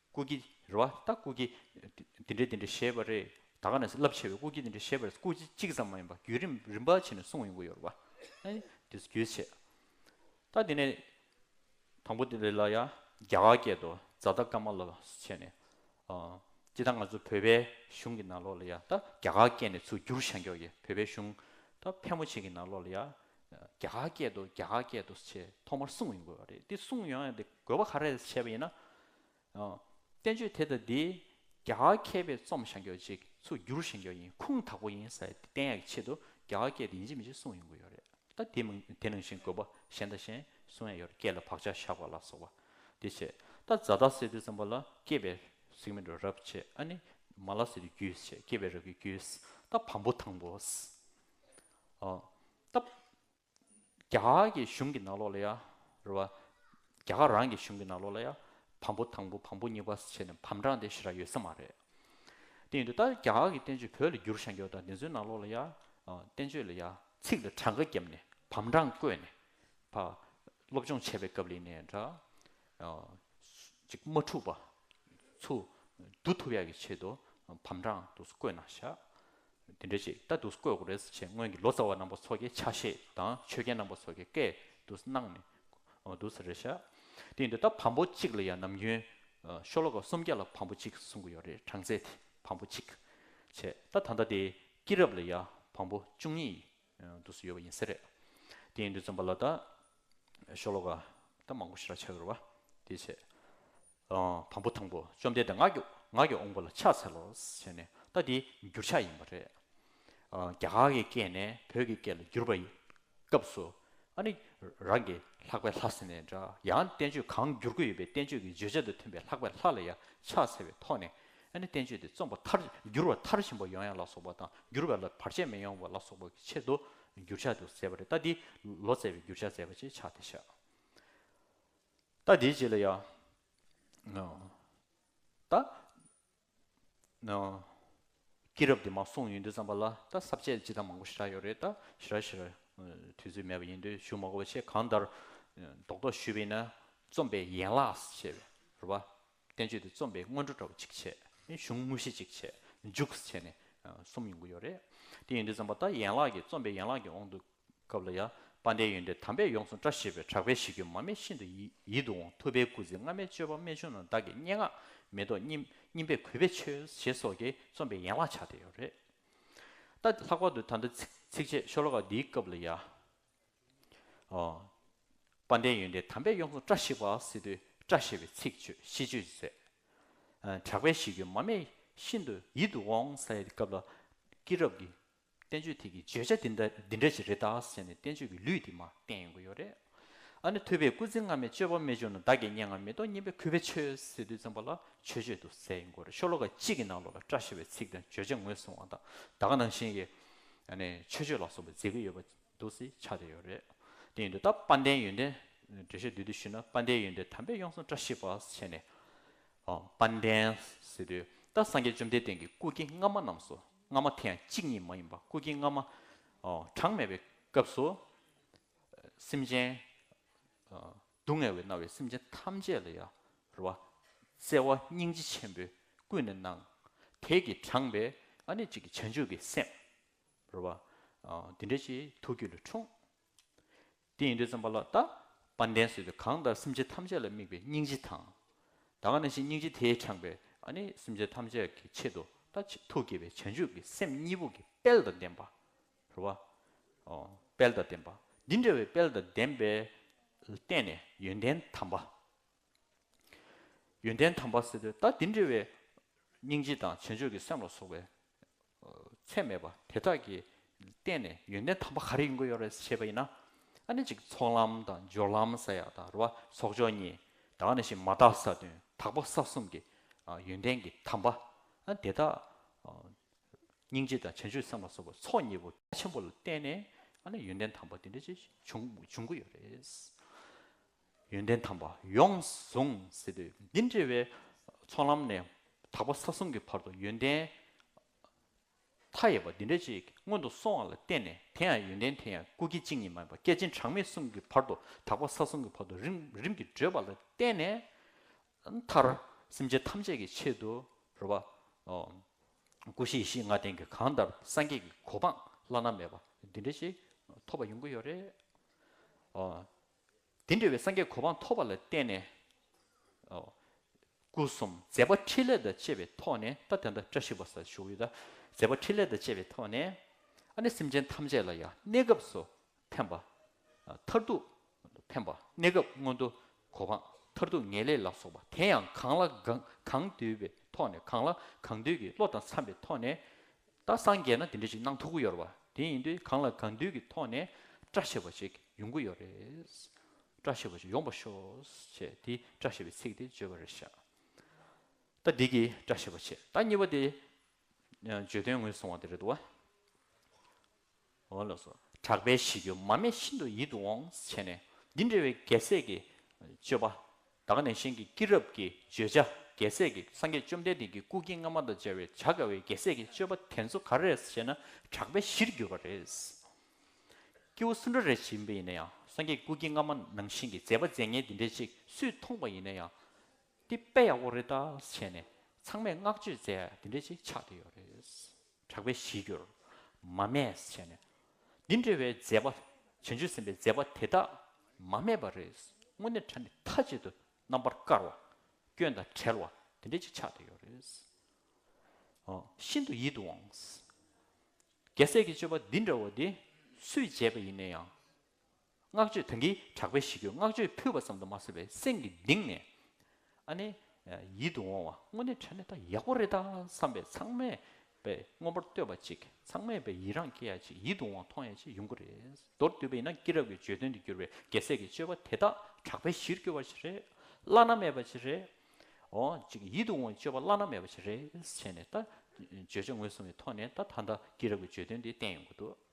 སྐུ་བགྱི། རེད་བ། ད་སྐུ་བགྱི། འདི་འདྲའི་འདི་འདྲའི་ཞེས་པ་རེད། ད་ག་ནས་སུ་རླབས་ཆེ་བའི་སྐུ་བགྱི་འདི་འདྲའི་ཞེས་པ་རེད་སྐུ་བགྱི་གཅིག་ཙམ་མ་ཡིན་པ་བརྒྱུད་རིམ་རིམ་པར་ཕྱིན་ནས་གསུངས་ཡོང་གི་ཡོད་རེད་བ། དེ་ཚོ་བརྒྱུད་བྱས། ད་འདི་ནས། དང་པོ་དེ་ལ་ཡ། རྒྱ་གར་སྐད་དུ་བཛྲ་རྟ་ཀ་མ་ལ་སུ་བྱས་ནས། ཅི་ད་ང་ཚོ་བོད་པའི་གཞུང་གི་ནང་ལོགས་ལ་ཡ། ད་རྒྱ་གར་སྐད་ནས་ཚུར་བསྒྱུར་བྱ་མགྱོགས་ཀྱི་བོད་པའི་གཞུང། ད་ཕལ་མོ་ཆེ་གི་ནང་ལོགས་ལ་ཡ། རྒྱ་གར་སྐད་དུ་རྒྱ་གར་སྐད་དུ་ཞེས་ཐོག་མར་གསུངས་ཡོང་དགོས་པ་རེད་དེ་གསུངས་ཡོང་ཡང་དེ་དགོས་པ་ག་རེ་ལས་བྱས་པ་ཡིན་ན། བསྟན་བཅོས་དེ་དང་དེའི་རྒྱ་གར་མཁས་པའི་རྩོམ་ཞན་འགྱུར་ཅིག་ཚུར་འགྱུར་ཞན་འགྱུར་ཡིན་ཁུངས་དག་པོ་ཡིན་ས་ཡ་དེ་བསྟན་ཡག་གི་ཆེད་དུ་རྒྱ་གར་སྐད་དུ་ཡིན་གཅིག་མིན་གཅིག་གསུངས་ཡོང་དགོས་ཡོད་རེད་ད། དེ་མིན་དེ་ནང་བཞིན་དགོས་པ་གཞན་དང་གཞན་གསུངས་ཡག་ཡོད་རེད་སྐད་ལ་བག་ཆགས་བཞག་པ་ལ་སོགས་པ་དེ་བྱས། ད་བཛྲ་རྟ་སེ་ཏི་ཙམ་པ་ལ་སྐྱེས་པའི་གཟུགས་མེད་དུ་རབ་བྱས་ཨ་ནི་མ་ལ་སེ་ཏི་རྒྱུད་བྱས་སྐྱེས་པའི་རབས་ཀྱི་རྒྱུད། ད་བམ་པོ་དང་པོ། སྟབས། རྒྱ་གར་གྱི་གཞུང་གི་ནང་ལོགས་ལ་ཡ། རེད་བ། རྒྱ་གར་རང་གི་གཞུང་གི་ནང་ལོགས་ལ་ཡ། བམ་པོ་དང་པོ་བམ་པོ་གཉིས་པ་སོགས་བྱས་ནས་བམ་གྲངས་དེ་ཞེ་རག་ཡོད་ས་མ་རེད། དེ་ཡིན་དུས་ད་རྒྱ་གར་གྱི་བསྟན་བཅོས་བོད་ལ་བསྒྱུར་བཞག་མགྱོགས་དང་དེ་ཚོའི་ནང་ལོགས་ལ་ཡ། བསྟན་བཅོས་ལ་ཡ། ཚིག་ལ་གྲངས་ཀ་བརྒྱབ་ནས་བམ་གྲངས་བཀོད་ནས། བ། སློབ་སྦྱོང་བྱས་པའི་སྐབས་ལས་ནས་འདྲ། ཅིག་མ་འཁྲུགས་པ། ཚུ། བསྡུ་ཐུབ་ཡག་གི་ཆེད་དུ་བམ་གྲངས་དུ་བཀོད་ན་བཞག། འདི་འདྲ་ཞིག་ལྟ་འདུག་སྐོས་རེས་བྱས་སྔོན་གྱི་ལོ་ཙཱ་བ་རྣམ་པ་ཚོགས་ཀྱི་ཆ་ཤས་དང་ཆོས་རྒྱལ་རྣམ་པ་ཚོགས་ཀྱི་སྐད་དུ་སྣང་ནས་འདུག་ཟེར་རེད་ཤག་དེ་ཡིན་དུས་ད་བམ་པོ་གཅིག་ལ་ཡང་ནམ་རྒྱུན་ཤོ་ལོ་ཀ་སུམ་བརྒྱ་ལ་བམ་པོ་གཅིག་གསུང་གི་ཡོད་རེད་གྲངས་ཚད་དེ་བམ་པོ་གཅིག་བྱས་ད་ད་ལྟ་དེ་སྐྱིད་རབས་ལ་ཡང་བམ་པོ་བཅུ་གཉིས་འདུག་སྲིད་ཡོད་པ་ཡིན་གསལ་རེད། དེ་ཡིན་དུས་རྩོམ་པ་ལ་ད་ཤོ་ལོ་ཀ་ད་མང་པོ་ཞིག་ར་ཆ་ཡོད་རེད་བ། དེའི་ཆེད། དང་པོ་དང་པོ་བཅོམ་ལྡན་འདས་ངག་གི་ངག་གི་འོངས་པ་ལ་ཕྱག་འཚལ་ལོ་ཟེར་ནས་ད་དེ་འགྱུར་ཕྱག་ཡིན་པ་རེད། རྒྱ་གར་གྱི་སྐད་ནས་བོད་ཀྱི་སྐད་ལ་བསྒྱུར་བ་ཡི་སྐབས་སུ་ཨ་ནི་རང་གི་ལྷག་པའི་ལྷ་ཟེར་ནས་འདྲ་ཡང་བསྟན་བཅོས་གང་བསྒྱུར་དགོས་ཡོད་པའི་བསྟན་བཅོས་ཀྱི་བརྗོད་བྱ་དང་མཐུན་པའི་ལྷག་པའི་ལྷ་ལ་ཡང་ཕྱག་འཚལ་བའི་ཐོག་ནས་ཨ་ནི་བསྟན་བཅོས་དེ་རྩོམ་པ་མཐར་བསྒྱུར་བ་མཐར་ཕྱིན་པ་ཡོང་ཡ་ལ་སོགས་པ་དང་བསྒྱུར་བ་ལ་བར་ཆད་མི་ཡོང་བ་ལ་སོགས་པ་ཀྱི་ཆེད་དུ་བསྒྱུར་བྱ་དུ་མཛད་པ་རེད་ད་འདི་ལོ་མཛད་པའི་བསྒྱུར་བྱ་མཛད་པ་ཅེས་བྱ་སྟེ་བཞག་ད་འདིའི་རྗེས་ལ་ཡང་ད་སྐྱེས་རབས་དེ་མ་གསུངས་ཡུན་དུ་བརྩམས་པ་ལ་ད་ཟབ་ཆད་ཅི་ད་མང་པོ་ཞེ་དྲག་ཡོད་རེད་ད་ཞེ་དྲག་ཞེ་དྲག་དུས་ཚོད་མེད་པ་ཡིན་དུས་ཞུ་མ་གོ་བ་ཆེ་གང་ལྟར་རྡོག་རྡོག་ཞུས་པས་ན་རྩོམ་པའི་ཡན་ལགས་ཞེས་པའི་རུ་བ་བསྟན་བཅོས་དེ་རྩོམ་པའི་སྔོན་འགྲོ་འདྲ་བོ་གཅིག་བྱས། གཞུང་དངོས་གཞི་གཅིག་བྱས་མཇུག་བྱས་ནས་གསུམ་ཡོང་གི་ཡོད་རེད། དེ་ཡིན་དུས་བརྩམས་པ་ལྟར་ཡན་ལག་གི་རྩོམ་པའི་ཡན་ལག་གི་དབང་དུ། སྐབས་ལ་ཡ། པ་འདས་ཡོན་ཏན་དམ་པས་ཡོངས་སུ་བཀྲ་ཤིས་པའི་གྲགས་པའི་གཞི་ཁྱོད་མ་སྨད་ཤིན་ཏུ་ཡིད་དུ་འོང་ཐུབ་པའི་སྐུ་ཚེ་སྔ་མའི་སྤྱོད་པ་རྨད་བྱུང་རྣམས་བདག་གི་སྙན་ངག་མེ་ཏོག་སྙིམ་པས་གུས་པས་མཆོད་ཞེས་སོགས་ཀྱི་རྩོམ་པའི་ཡན་ལག་ཆགས་བསྡད་ཡོད་རེད། ལྷག་པར་དུ་ད་ལྟ་ཚིགས་བཅད་ཤོ་ལོ་ཀ་འདིའི་སྐབས་ལ་ཡ། དཔའ་ལྡན་ཡོན་ཏན་དམ་པས་གཡོ་མཚོ་བཀྲ་ཤིས་པ་སི་ཏུས་བཀྲ་ཤེས་པའི་ཚིག་ཆོས་ཤིས་བརྗོད་མཛད། གྲགས་པའི་ཞི་ཁྱོད་མ་སྨད་ཤིན་ཏུ་ཡིད་དུ་འོང་ས་ཡི་སྐབས་ལ་སྐྱེས་རབས་ཀྱི་བསྟན་བཅོས་ཐིག་གི་བརྗོད་བྱ་འདི་འདྲ་འདི་འདྲ་ཅིག་རེ་ད་ཟེར་ནས་བསྟན་བཅོས་ཀྱི་ལུས་འདི་མ་བསྟན་ཡོང་གི་ཡོད་རེད་ཨ་ནི་ཐོས་པའི་སྐུ་ཚེ་སྔ་མའི་སྤྱོད་པ་རྨད་བྱུང་ན་བདག་གི་སྙན་ངག་མི་རྟོག་སྙན་པའི་གུས་པས་ཆོས་སི་ཏུས་བཙོན་པ་ལ་ཆོས་བརྗོད་དུ་གསལ་ཡིན་དགོས་རེད་ཤོ་ལོ་ཀ་གཅིག་གི་ནང་ལོགས་ལ་བཀྲ་ཤིས་པའི་ཚིག་དང་བརྗོད་བྱ་ངོས་བཟུང་བ་དང་བདག་ནང་བཞིན་གྱི་ཆོས་བརྗོད་ལ་སོགས་པའི་མཛེས་ཀུན་ཡོད་པ། འདུག་སའི་ཆ་དེ་ཡོད་རེད། དེ་ཡིན་དུས་ད་དཔལ་ལྡན་ཡོན་ཏན། འགྲེལ་བཤད་བསྡུས་དུས་ཤེས་ན་དཔལ་ལྡན་ཡོན་ཏན་དམ་པས་ཡོངས་སུ་བཀྲ་ཤིས་པ་བྱས་ནས། དཔལ་ལྡན། ཟེར་དུས་ད་སངས་རྒྱས་བཅོམ་ལྡན་འདས་ཀྱི་སྐུ་སྐྱེ་སྔ་མ་རྣམས་སོ། སྔ་མ་དེ་ཡང་གཅིག་ཉིད་མ་ཡིན་པར་སྐུ་སྐྱེ་སྔ་མ། གྲངས་མེད་པའི་སྐབས་སུ། སེམས་ཅན། སྡུག་བསྔལ་བའི་མནར་བའི་སེམས་ཅན་ཐམས་ཅད་ལ་ཡར། བརྩེ་བ་སྙིང་རྗེ་ཆེན་པོས་ཀུན་ནས་གནང། དེས་ཀྱི་དྲངས་པའི་ཨ་ནི་གཅིག་གི་བྱང་ཆུབ་ཀྱི་སེམས། རོལ་བ། འདི་འདྲའི་ཆེའི་ཐུགས་རྒྱུད་ལ་འཁྲུངས། དེ་ཡིན་དུས་བརྩམས་པ་ལ་བལྟ། དཔལ་ལྡན་སྲིད་དུ་གང་ལྟར་སེམས་ཅན་ཐམས་ཅད་ལ་དམིགས་པའི་སྙིང་རྗེ་དང། ད་ག་ནས་ཤེས་སྙིང་རྗེ་དེས་དྲངས་པའི་ནི་སེམས་ཅན་ཐམས་ཅད་ཀྱི་ཆེད་དུ་ད་ཐུགས་དགྱེས་པའི་བྱང་ཆུབ་ཀྱི་སེམས་གཉིས་པོ་ཀྱི་དཔལ་དང་ལྡན་པ། རོལ་བ། དཔལ་དང་ལྡན་པ། འདི་འདྲ་བའི་དཔལ་དང་ལྡན་པས་བརྟེན་ནས་ཡོན་ཏན་དམ་པ། ཡོན་ཏན་དམ་པ་སྲིད་དུ་ད་འདི་འདྲ་བའི་སྙིང་རྗེ་དང་བྱང་ཆུབ་ཀྱི་སེམས་ལ་སོགས་པའི་ཚད་མེད་པ་དེ་དག་གིས་བལྟས་ནས་ཡོན་ཏན་དམ་པ་ག་རེ་ཡིན་དགོས་ཡོད་རེད་ཞེས་པ་ཡིན་ན། ཨ་ནི་གཅིག་ཚོགས་ལམ་དང་སྦྱོར་ལམ་ས་ཡ་དང་རུ་བ་ཚོགས་སྦྱོར་གཉིས་དང་ནི་ཞེས་མ་དག་ས་བདུན་དག་པོ་ས་གསུམ་གྱི་ཡོན་ཏན་གྱི་དམ་པ་དེ་དག་སྙིང་རྗེ་དང་བྱང་ཆུབ་སེམས་ལ་སོགས་པ་ཚོགས་གཉིས་པོ་ཆེན་པོ་ལ་བལྟས་ནས་ཨ་ནི་ཡོན་ཏན་དམ་པ་དེ་འདྲ་ཅིག་འབྱུང་དགོས་ཡོད་རེད། ཡོན་ཏན་དམ་པ་ཡོངས་བཟུང་ཟེར་དུས་འདི་འདྲི་བའི་ཚོགས་ལམ་ནས་དག་པ་ས་གསུམ་གྱི་བར་དུ་ཡོན་ཏན་མཐའ་ཡས་པ་འདི་འདྲ་ཅིག་སྔོན་དུ་སོང་བ་ལ་བརྟེན་ནས་དེ་ཡང་ཡོན་ཏན་དེ་ཡང་སྐུ་སྐྱེ་གཅིག་ཉིད་མ་ཡིན་པ་བསྐལ་ཆེན་གྲངས་མེད་གསུམ་གྱི་བར་དུ་དག་པ་ས་གསུམ་གྱི་བར་དུ་རིམ་རིམ་གྱིས་བགྲོད་པ་ལ་བརྟེན་ནས་མཐར་སེམས་ཅན་ཐམས་ཅད་ཀྱི་ཆེད་དུ་རོལ་བ། སྐུ་བཞི་ཡེ་ཤེས་ལྔ་ལྡན་གྱི་གང་ལྟར་སངས་རྒྱས་ཀྱི་གོ་འཕང་བླ་ན་མེད་པ་འདི་འདྲ་ཞིག་ཐོབ་པ་ཡོང་གི་ཡོད་རེད། དེ་འདྲ་བའི་སངས་རྒྱས་གོ་འཕང་ཐོབ་པ་ལ་བརྟེན་ནས། སྐུ་གསུམ་མཛད་པ་ཕྲིན་ལས་དང་བཅས་པའི་ཐོག་ནས་ད་དེ་འདྲ་བཀྲ་ཤིས་པ་སར་ཞུགས་ཡོད། མཛད་པ་ཕྲིན་ལས་དང་བཅས་པའི་ཐོག་ནས། ཨ་ནི་སེམས་ཅན་ཐམས་ཅད་ལ་ཡང་གནས་སྐབས་སུ་ཕན་པ། མཐར་ཐུག་ཕན་པ་གནས་སྐབས་སྔོན་དུ་གོ་འཕང་མཐར་ཐུག་ངེས་ལེགས་ལ་སོགས་པ་དེ་ཡང་གང་ལ་གང་འདུལ་བའི་ཐོག་ནས་གང་ལ་གང་འདུལ་གྱི་བློ་དང་འཚམས་པའི་ཐོག་ནས། ད་སངས་རྒྱས་ན་དེ་འདྲ་ཞིག་གནང་ཐུབ་གི་ཡོད་རེད་བ་དེ་ཡིན་དུས་གང་ལ་གང་འདུལ་གི་ཐོག་ནས་བཀྲ་ཤིས་པ་ཞིག་ཡོང་གི་ཡོད་རེད། བཀྲ་ཤིས་པ་ཞིག་ཡོང་པ་ཤོག་ཅེས་དེ་བཀྲ་ཤིས་པའི་ཚིག་དེ་བརྗོད་པ་རེད་བཞག་ད་འདི་གི་བཀྲ་ཤིས་པ་ཆེད་ད་གཉིས་པ་དེ་བརྗོད་དོན་ངོས་བཟུང་བ་དེ་རེད་དོ། འོ་ལོ་སོ། གྲགས་པའི་གཞི་ཁྱོད་མ་སྨད་ཤིན་ཏུ་ཡིད་དུ་འོང། བྱས་ནས་འདི་འདྲ་བའི་རྒྱལ་སྲས་ཀྱི། སྤྱོད་པ། དག་ནས་གཤེན་གྱི་སྐྱེས་རབས་ཀྱི་བརྗོད་བྱ་རྒྱལ་སྲས་ཀྱི་སངས་རྒྱས་བཅོམ་ལྡན་འདས་ཀྱི་སྐུ་སྐྱེ་སྔ་མ་དང་སྦྱར་བའི་བྱ་དགའ་བའི་རྒྱལ་སྲས་ཀྱི་སྤྱོད་པ་དེ་ཚོ་ག་རེད་ཞེ་ན་གྲགས་པའི་གཞིར་གྱུར་པ་རེད། སྐྱེ་བོ་སུ་འདྲ་རེ་ཞིག་ཡིན་པ་ཡིན་ན་ཡང་སངས་རྒྱས་སྐུ་སྐྱེ་སྔ་མ་ནང་བཞིན་གྱི་མཛད་པ་མཛད་ཉལ་འདི་འདྲ་ཅིག་སུས་མཐོང་པ་ཡིན་ན་ཡང། འདི་དཔེ་ཡག་པོ་རེད་ད་བྱས་ནས་ཚང་མས་བསྔགས་བརྗོད་མཛད་འདི་འདྲ་ཅིག་ཆགས་བསྡད་ཡོད་རེད། གྲགས་པའི་གཞིའི་རྒྱུར་མ་སྨྲས་བྱས་ནས། འདི་འདྲ་བའི་མཛད་པ་བྱང་ཆུབ་སེམས་དཔའི་མཛད་པ་དེ་དག་མ་སྨྲས་པར་རེས་སྔོན་ནས་ཕྲ་ནི་མཐའ་གཅིག་ཏུ་རྣམ་པར་དཀར་བ། སྐྱོན་དང་བྲལ་བ་དེ་འདྲ་ཅིག་ཆགས་ཏེ་ཡོད་རེས་ཨོ། ཤིན་ཏུ་ཡིད་དུ་འོང། རྒྱལ་སྲས་ཀྱི་སྤྱོད་པ་འདི་འདྲ་བ་འདི་སུས་བྱས་པ་ཡིན་ན་ཡང་བསྔགས་བརྗོད་དོན་གྱི་གྲགས་པའི་གཞི་ཁྱོད་བསྔགས་བརྗོད་ཕུལ་བ་ཙམ་དུ་མ་ཟད་པའི་སེམས་ཀྱི་གདིང་ནས་ཨ་ནི། ཡིད་དུ་འོང་བ་དངོས་གནས་དྲན་ནས་ད་ཡག་པོ་རེད་ད་བསམ་པའི་ཚང་མས་པའི་མངོན་པར་བསྟོད་པ་ཅིག་ཚང་མས་པའི་ཡི་རངས་སྐྱེ་ཡ་ཅིག་ཡིད་དུ་འོང་བ་མཐོང་ཡ་ཅིག་ཡོང་གི་རེད་མདོར་བསྡུས་པ་ཡིན་ན་སྐྱིད་རབ་ཀྱི་བརྗོད་དོན་དུ་གྱུར་པའི་རྒྱལ་སྲས་ཀྱི་སྤྱོད་པ་དེ་དག་གྲགས་པའི་གཞིར་གྱུར་པ་ཅིག་རེད་བླ་ན་མེད་པ་ཅིག་རེད་འོ་ཅིག་ཡིད་དུ་འོང་བའི་སྤྱོད་པ་བླ་ན་མེད་པ་ཅིག་རེད་བྱས་ནས་ད་བརྗོད་བྱ་ངོས་བཟུང་བའི་ཐོག་ནས་ད་ད་ལྟ་སྐྱིད་རབ་ཀྱི་བརྗོད་དོན་དེ་བསྟན་ཡོང་གི་འདུག།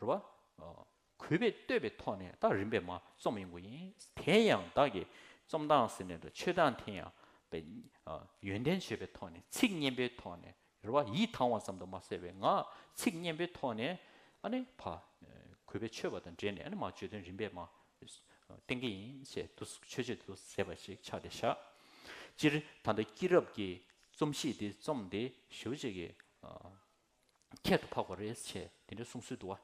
རུ་བ། གུས་པས་བསྟོད་པའི་ཐོག་ནས་ད་རིམ་པས་མ་རྩོམ་ཡོང་གི་ཡིན། དེ་ཡང་བདག་གིས་རྩོམ་སྟངས་ཟེར་ནས་འགྲོ་ཆོས་སྟངས་དེ་ཡང་བས། ཡོན་ཏན་བརྗོད་པའི་ཐོག་ནས་ཚིག་སྙན་པོའི་ཐོག་ནས་རུ་བ། ཡིད་ཐང་བ་ཙམ་དུ་མ་ཟེར་བའི་ངག་ཚིག་སྙན་པོའི་ཐོག་ནས་ཨ་ནི་བ། གུས་པས་ཆོས་པ་དང་འབྲེལ་ནས་ཨ་ནི་མ་བརྗོད་དོན་རིམ་པས་མ། བསྟན་གྱི་ཡིན་ཞེས་དུ་ཆོས་བརྗོད་དུ་ཟེར་བ་ཞིག་ཆགས་ཏེ་བཞག། སྤྱིར་ད་ལྟ་སྐྱིད་རབ་ཀྱིས་རྩོམ་གཤིས་འདི་རྩོམ་དེ་ཞོལ་གཅིག་གི། ཁྱད་དུ་འཕགས་པ་རེ་ཆེ་དེ་འདྲའི་གསུང་སྲོལ་འདུག་ཨ།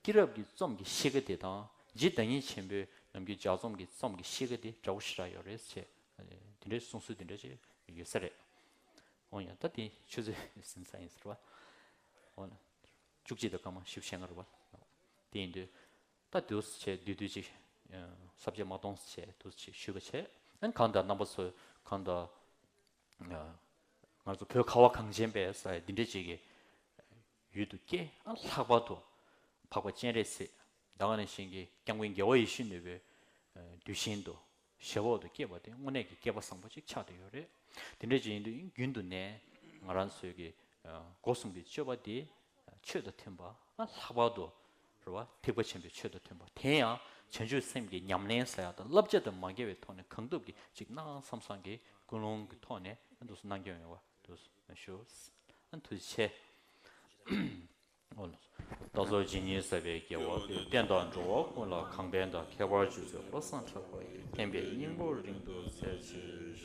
སྐྱིད་རབ་ཀྱི་རྩོམ་གྱི་གཤིས་ཀ་དེ་དང་རྗེ་བདག་ཉིད་ཆེན་པོའི་ནམ་རྒྱུན་ལྗགས་རྩོམ་གྱི་རྩོམ་གྱི་གཤིས་ཀ་དེ་འདྲ་བོ་ཞིག་རག་ཡོད་རེ་ཆེ། དེ་འདྲའི་གསུང་སྲོལ་དེ་འདྲ་ཅིག་ཡོད་ས་རེད། འོན་ཡང་ད་དེ་ཆུ་ཚོད་ཟིན་ས་ཡིན་ཟེར་བ། འོ་ན། བཅུ་གཅིག་དང་སྐར་མ་བཞི་བཅས་ལྔ་རེད་བ། དེ་ཡིན་དུས། ད་དུས་སུ་ཆེ་དུས་དུས་ཅིག། ཟབ་ཆས་མ་གཏོང་སུ་ཆེ་དུས་སུ་ཆེ་ཞུས་པ་བྱས། འོན་གང་ལྟར་རྣམ་པ་ཚོས་གང་ལྟར། ང་ཚོ་བོད་ཁ་བ་གངས་ཅན་པའི་ས་ཡ་འདི་འདྲའི་གཅིག་གི་ཡུལ་དུ་སྐྱེ་ཨ་ལྷག་པར་དུ་འཕགས་པ་སྤྱན་རས་གཟིགས་ཟླ་བ་ལ་བྱིན་གྱིས་བསྐྱངས་པའི་རྒྱལ་བ་ཡེ་ཤེས་ནུས་པའི་གདུལ་ཞིང་དུ་ཞབས་འོག་ཏུ་སྐྱེས་པ་དེ་དངོས་གནས་ཀྱི་སྐྱེས་པ་བཟང་པོ་གཅིག་ཆགས་ཏེ་ཡོད་རེད། དེ་འདྲའི་གཅིག་ཡིན་དུས་རྒྱུན་དུ་ནས་ང་རང་ཚོའི་གི་སྒོ་གསུམ་གྱི་སྤྱོད་པ་འདི་ཆོས་དང་མཐུན་པ་ཨ་ལྷག་པར་དུ་རེ་བ་ཐེག་པ་ཆེན་པོའི་ཆོས་དང་མཐུན་པ་དེ་ཡང་བྱང་ཆུབ་སེམས་ཀྱི་ཉམས་ལེན་ས་ཡ་དང་བསླབ་བྱ་དུ་མ་འགལ་བའི་ཐོག་ནས་གང་ཐུབ་ཀྱིས་གཅིག་གནང་བསམ་བསམ་གྱིས་ཀུན་སློང་གི་ཐོག་ནས་གནང་སྐྱོང་ཡོང་བ་ཞུ། དུས་ཆེ། རྟ་མཆོག་རྗེ་ཉིད་ཟབ་པའི་རྒྱལ་བ་དེ་བསྟན་དང་འགྲོ་བ་ཀུན་ལ་གང་ཕན་དང་མཁས་པར་གྱུར་པའི་བློ་བཟང་གྲགས་པ་ཡི་བསྟན་པའི་སྙིང་པོ་རིང་དུ་གསལ་བྱེད།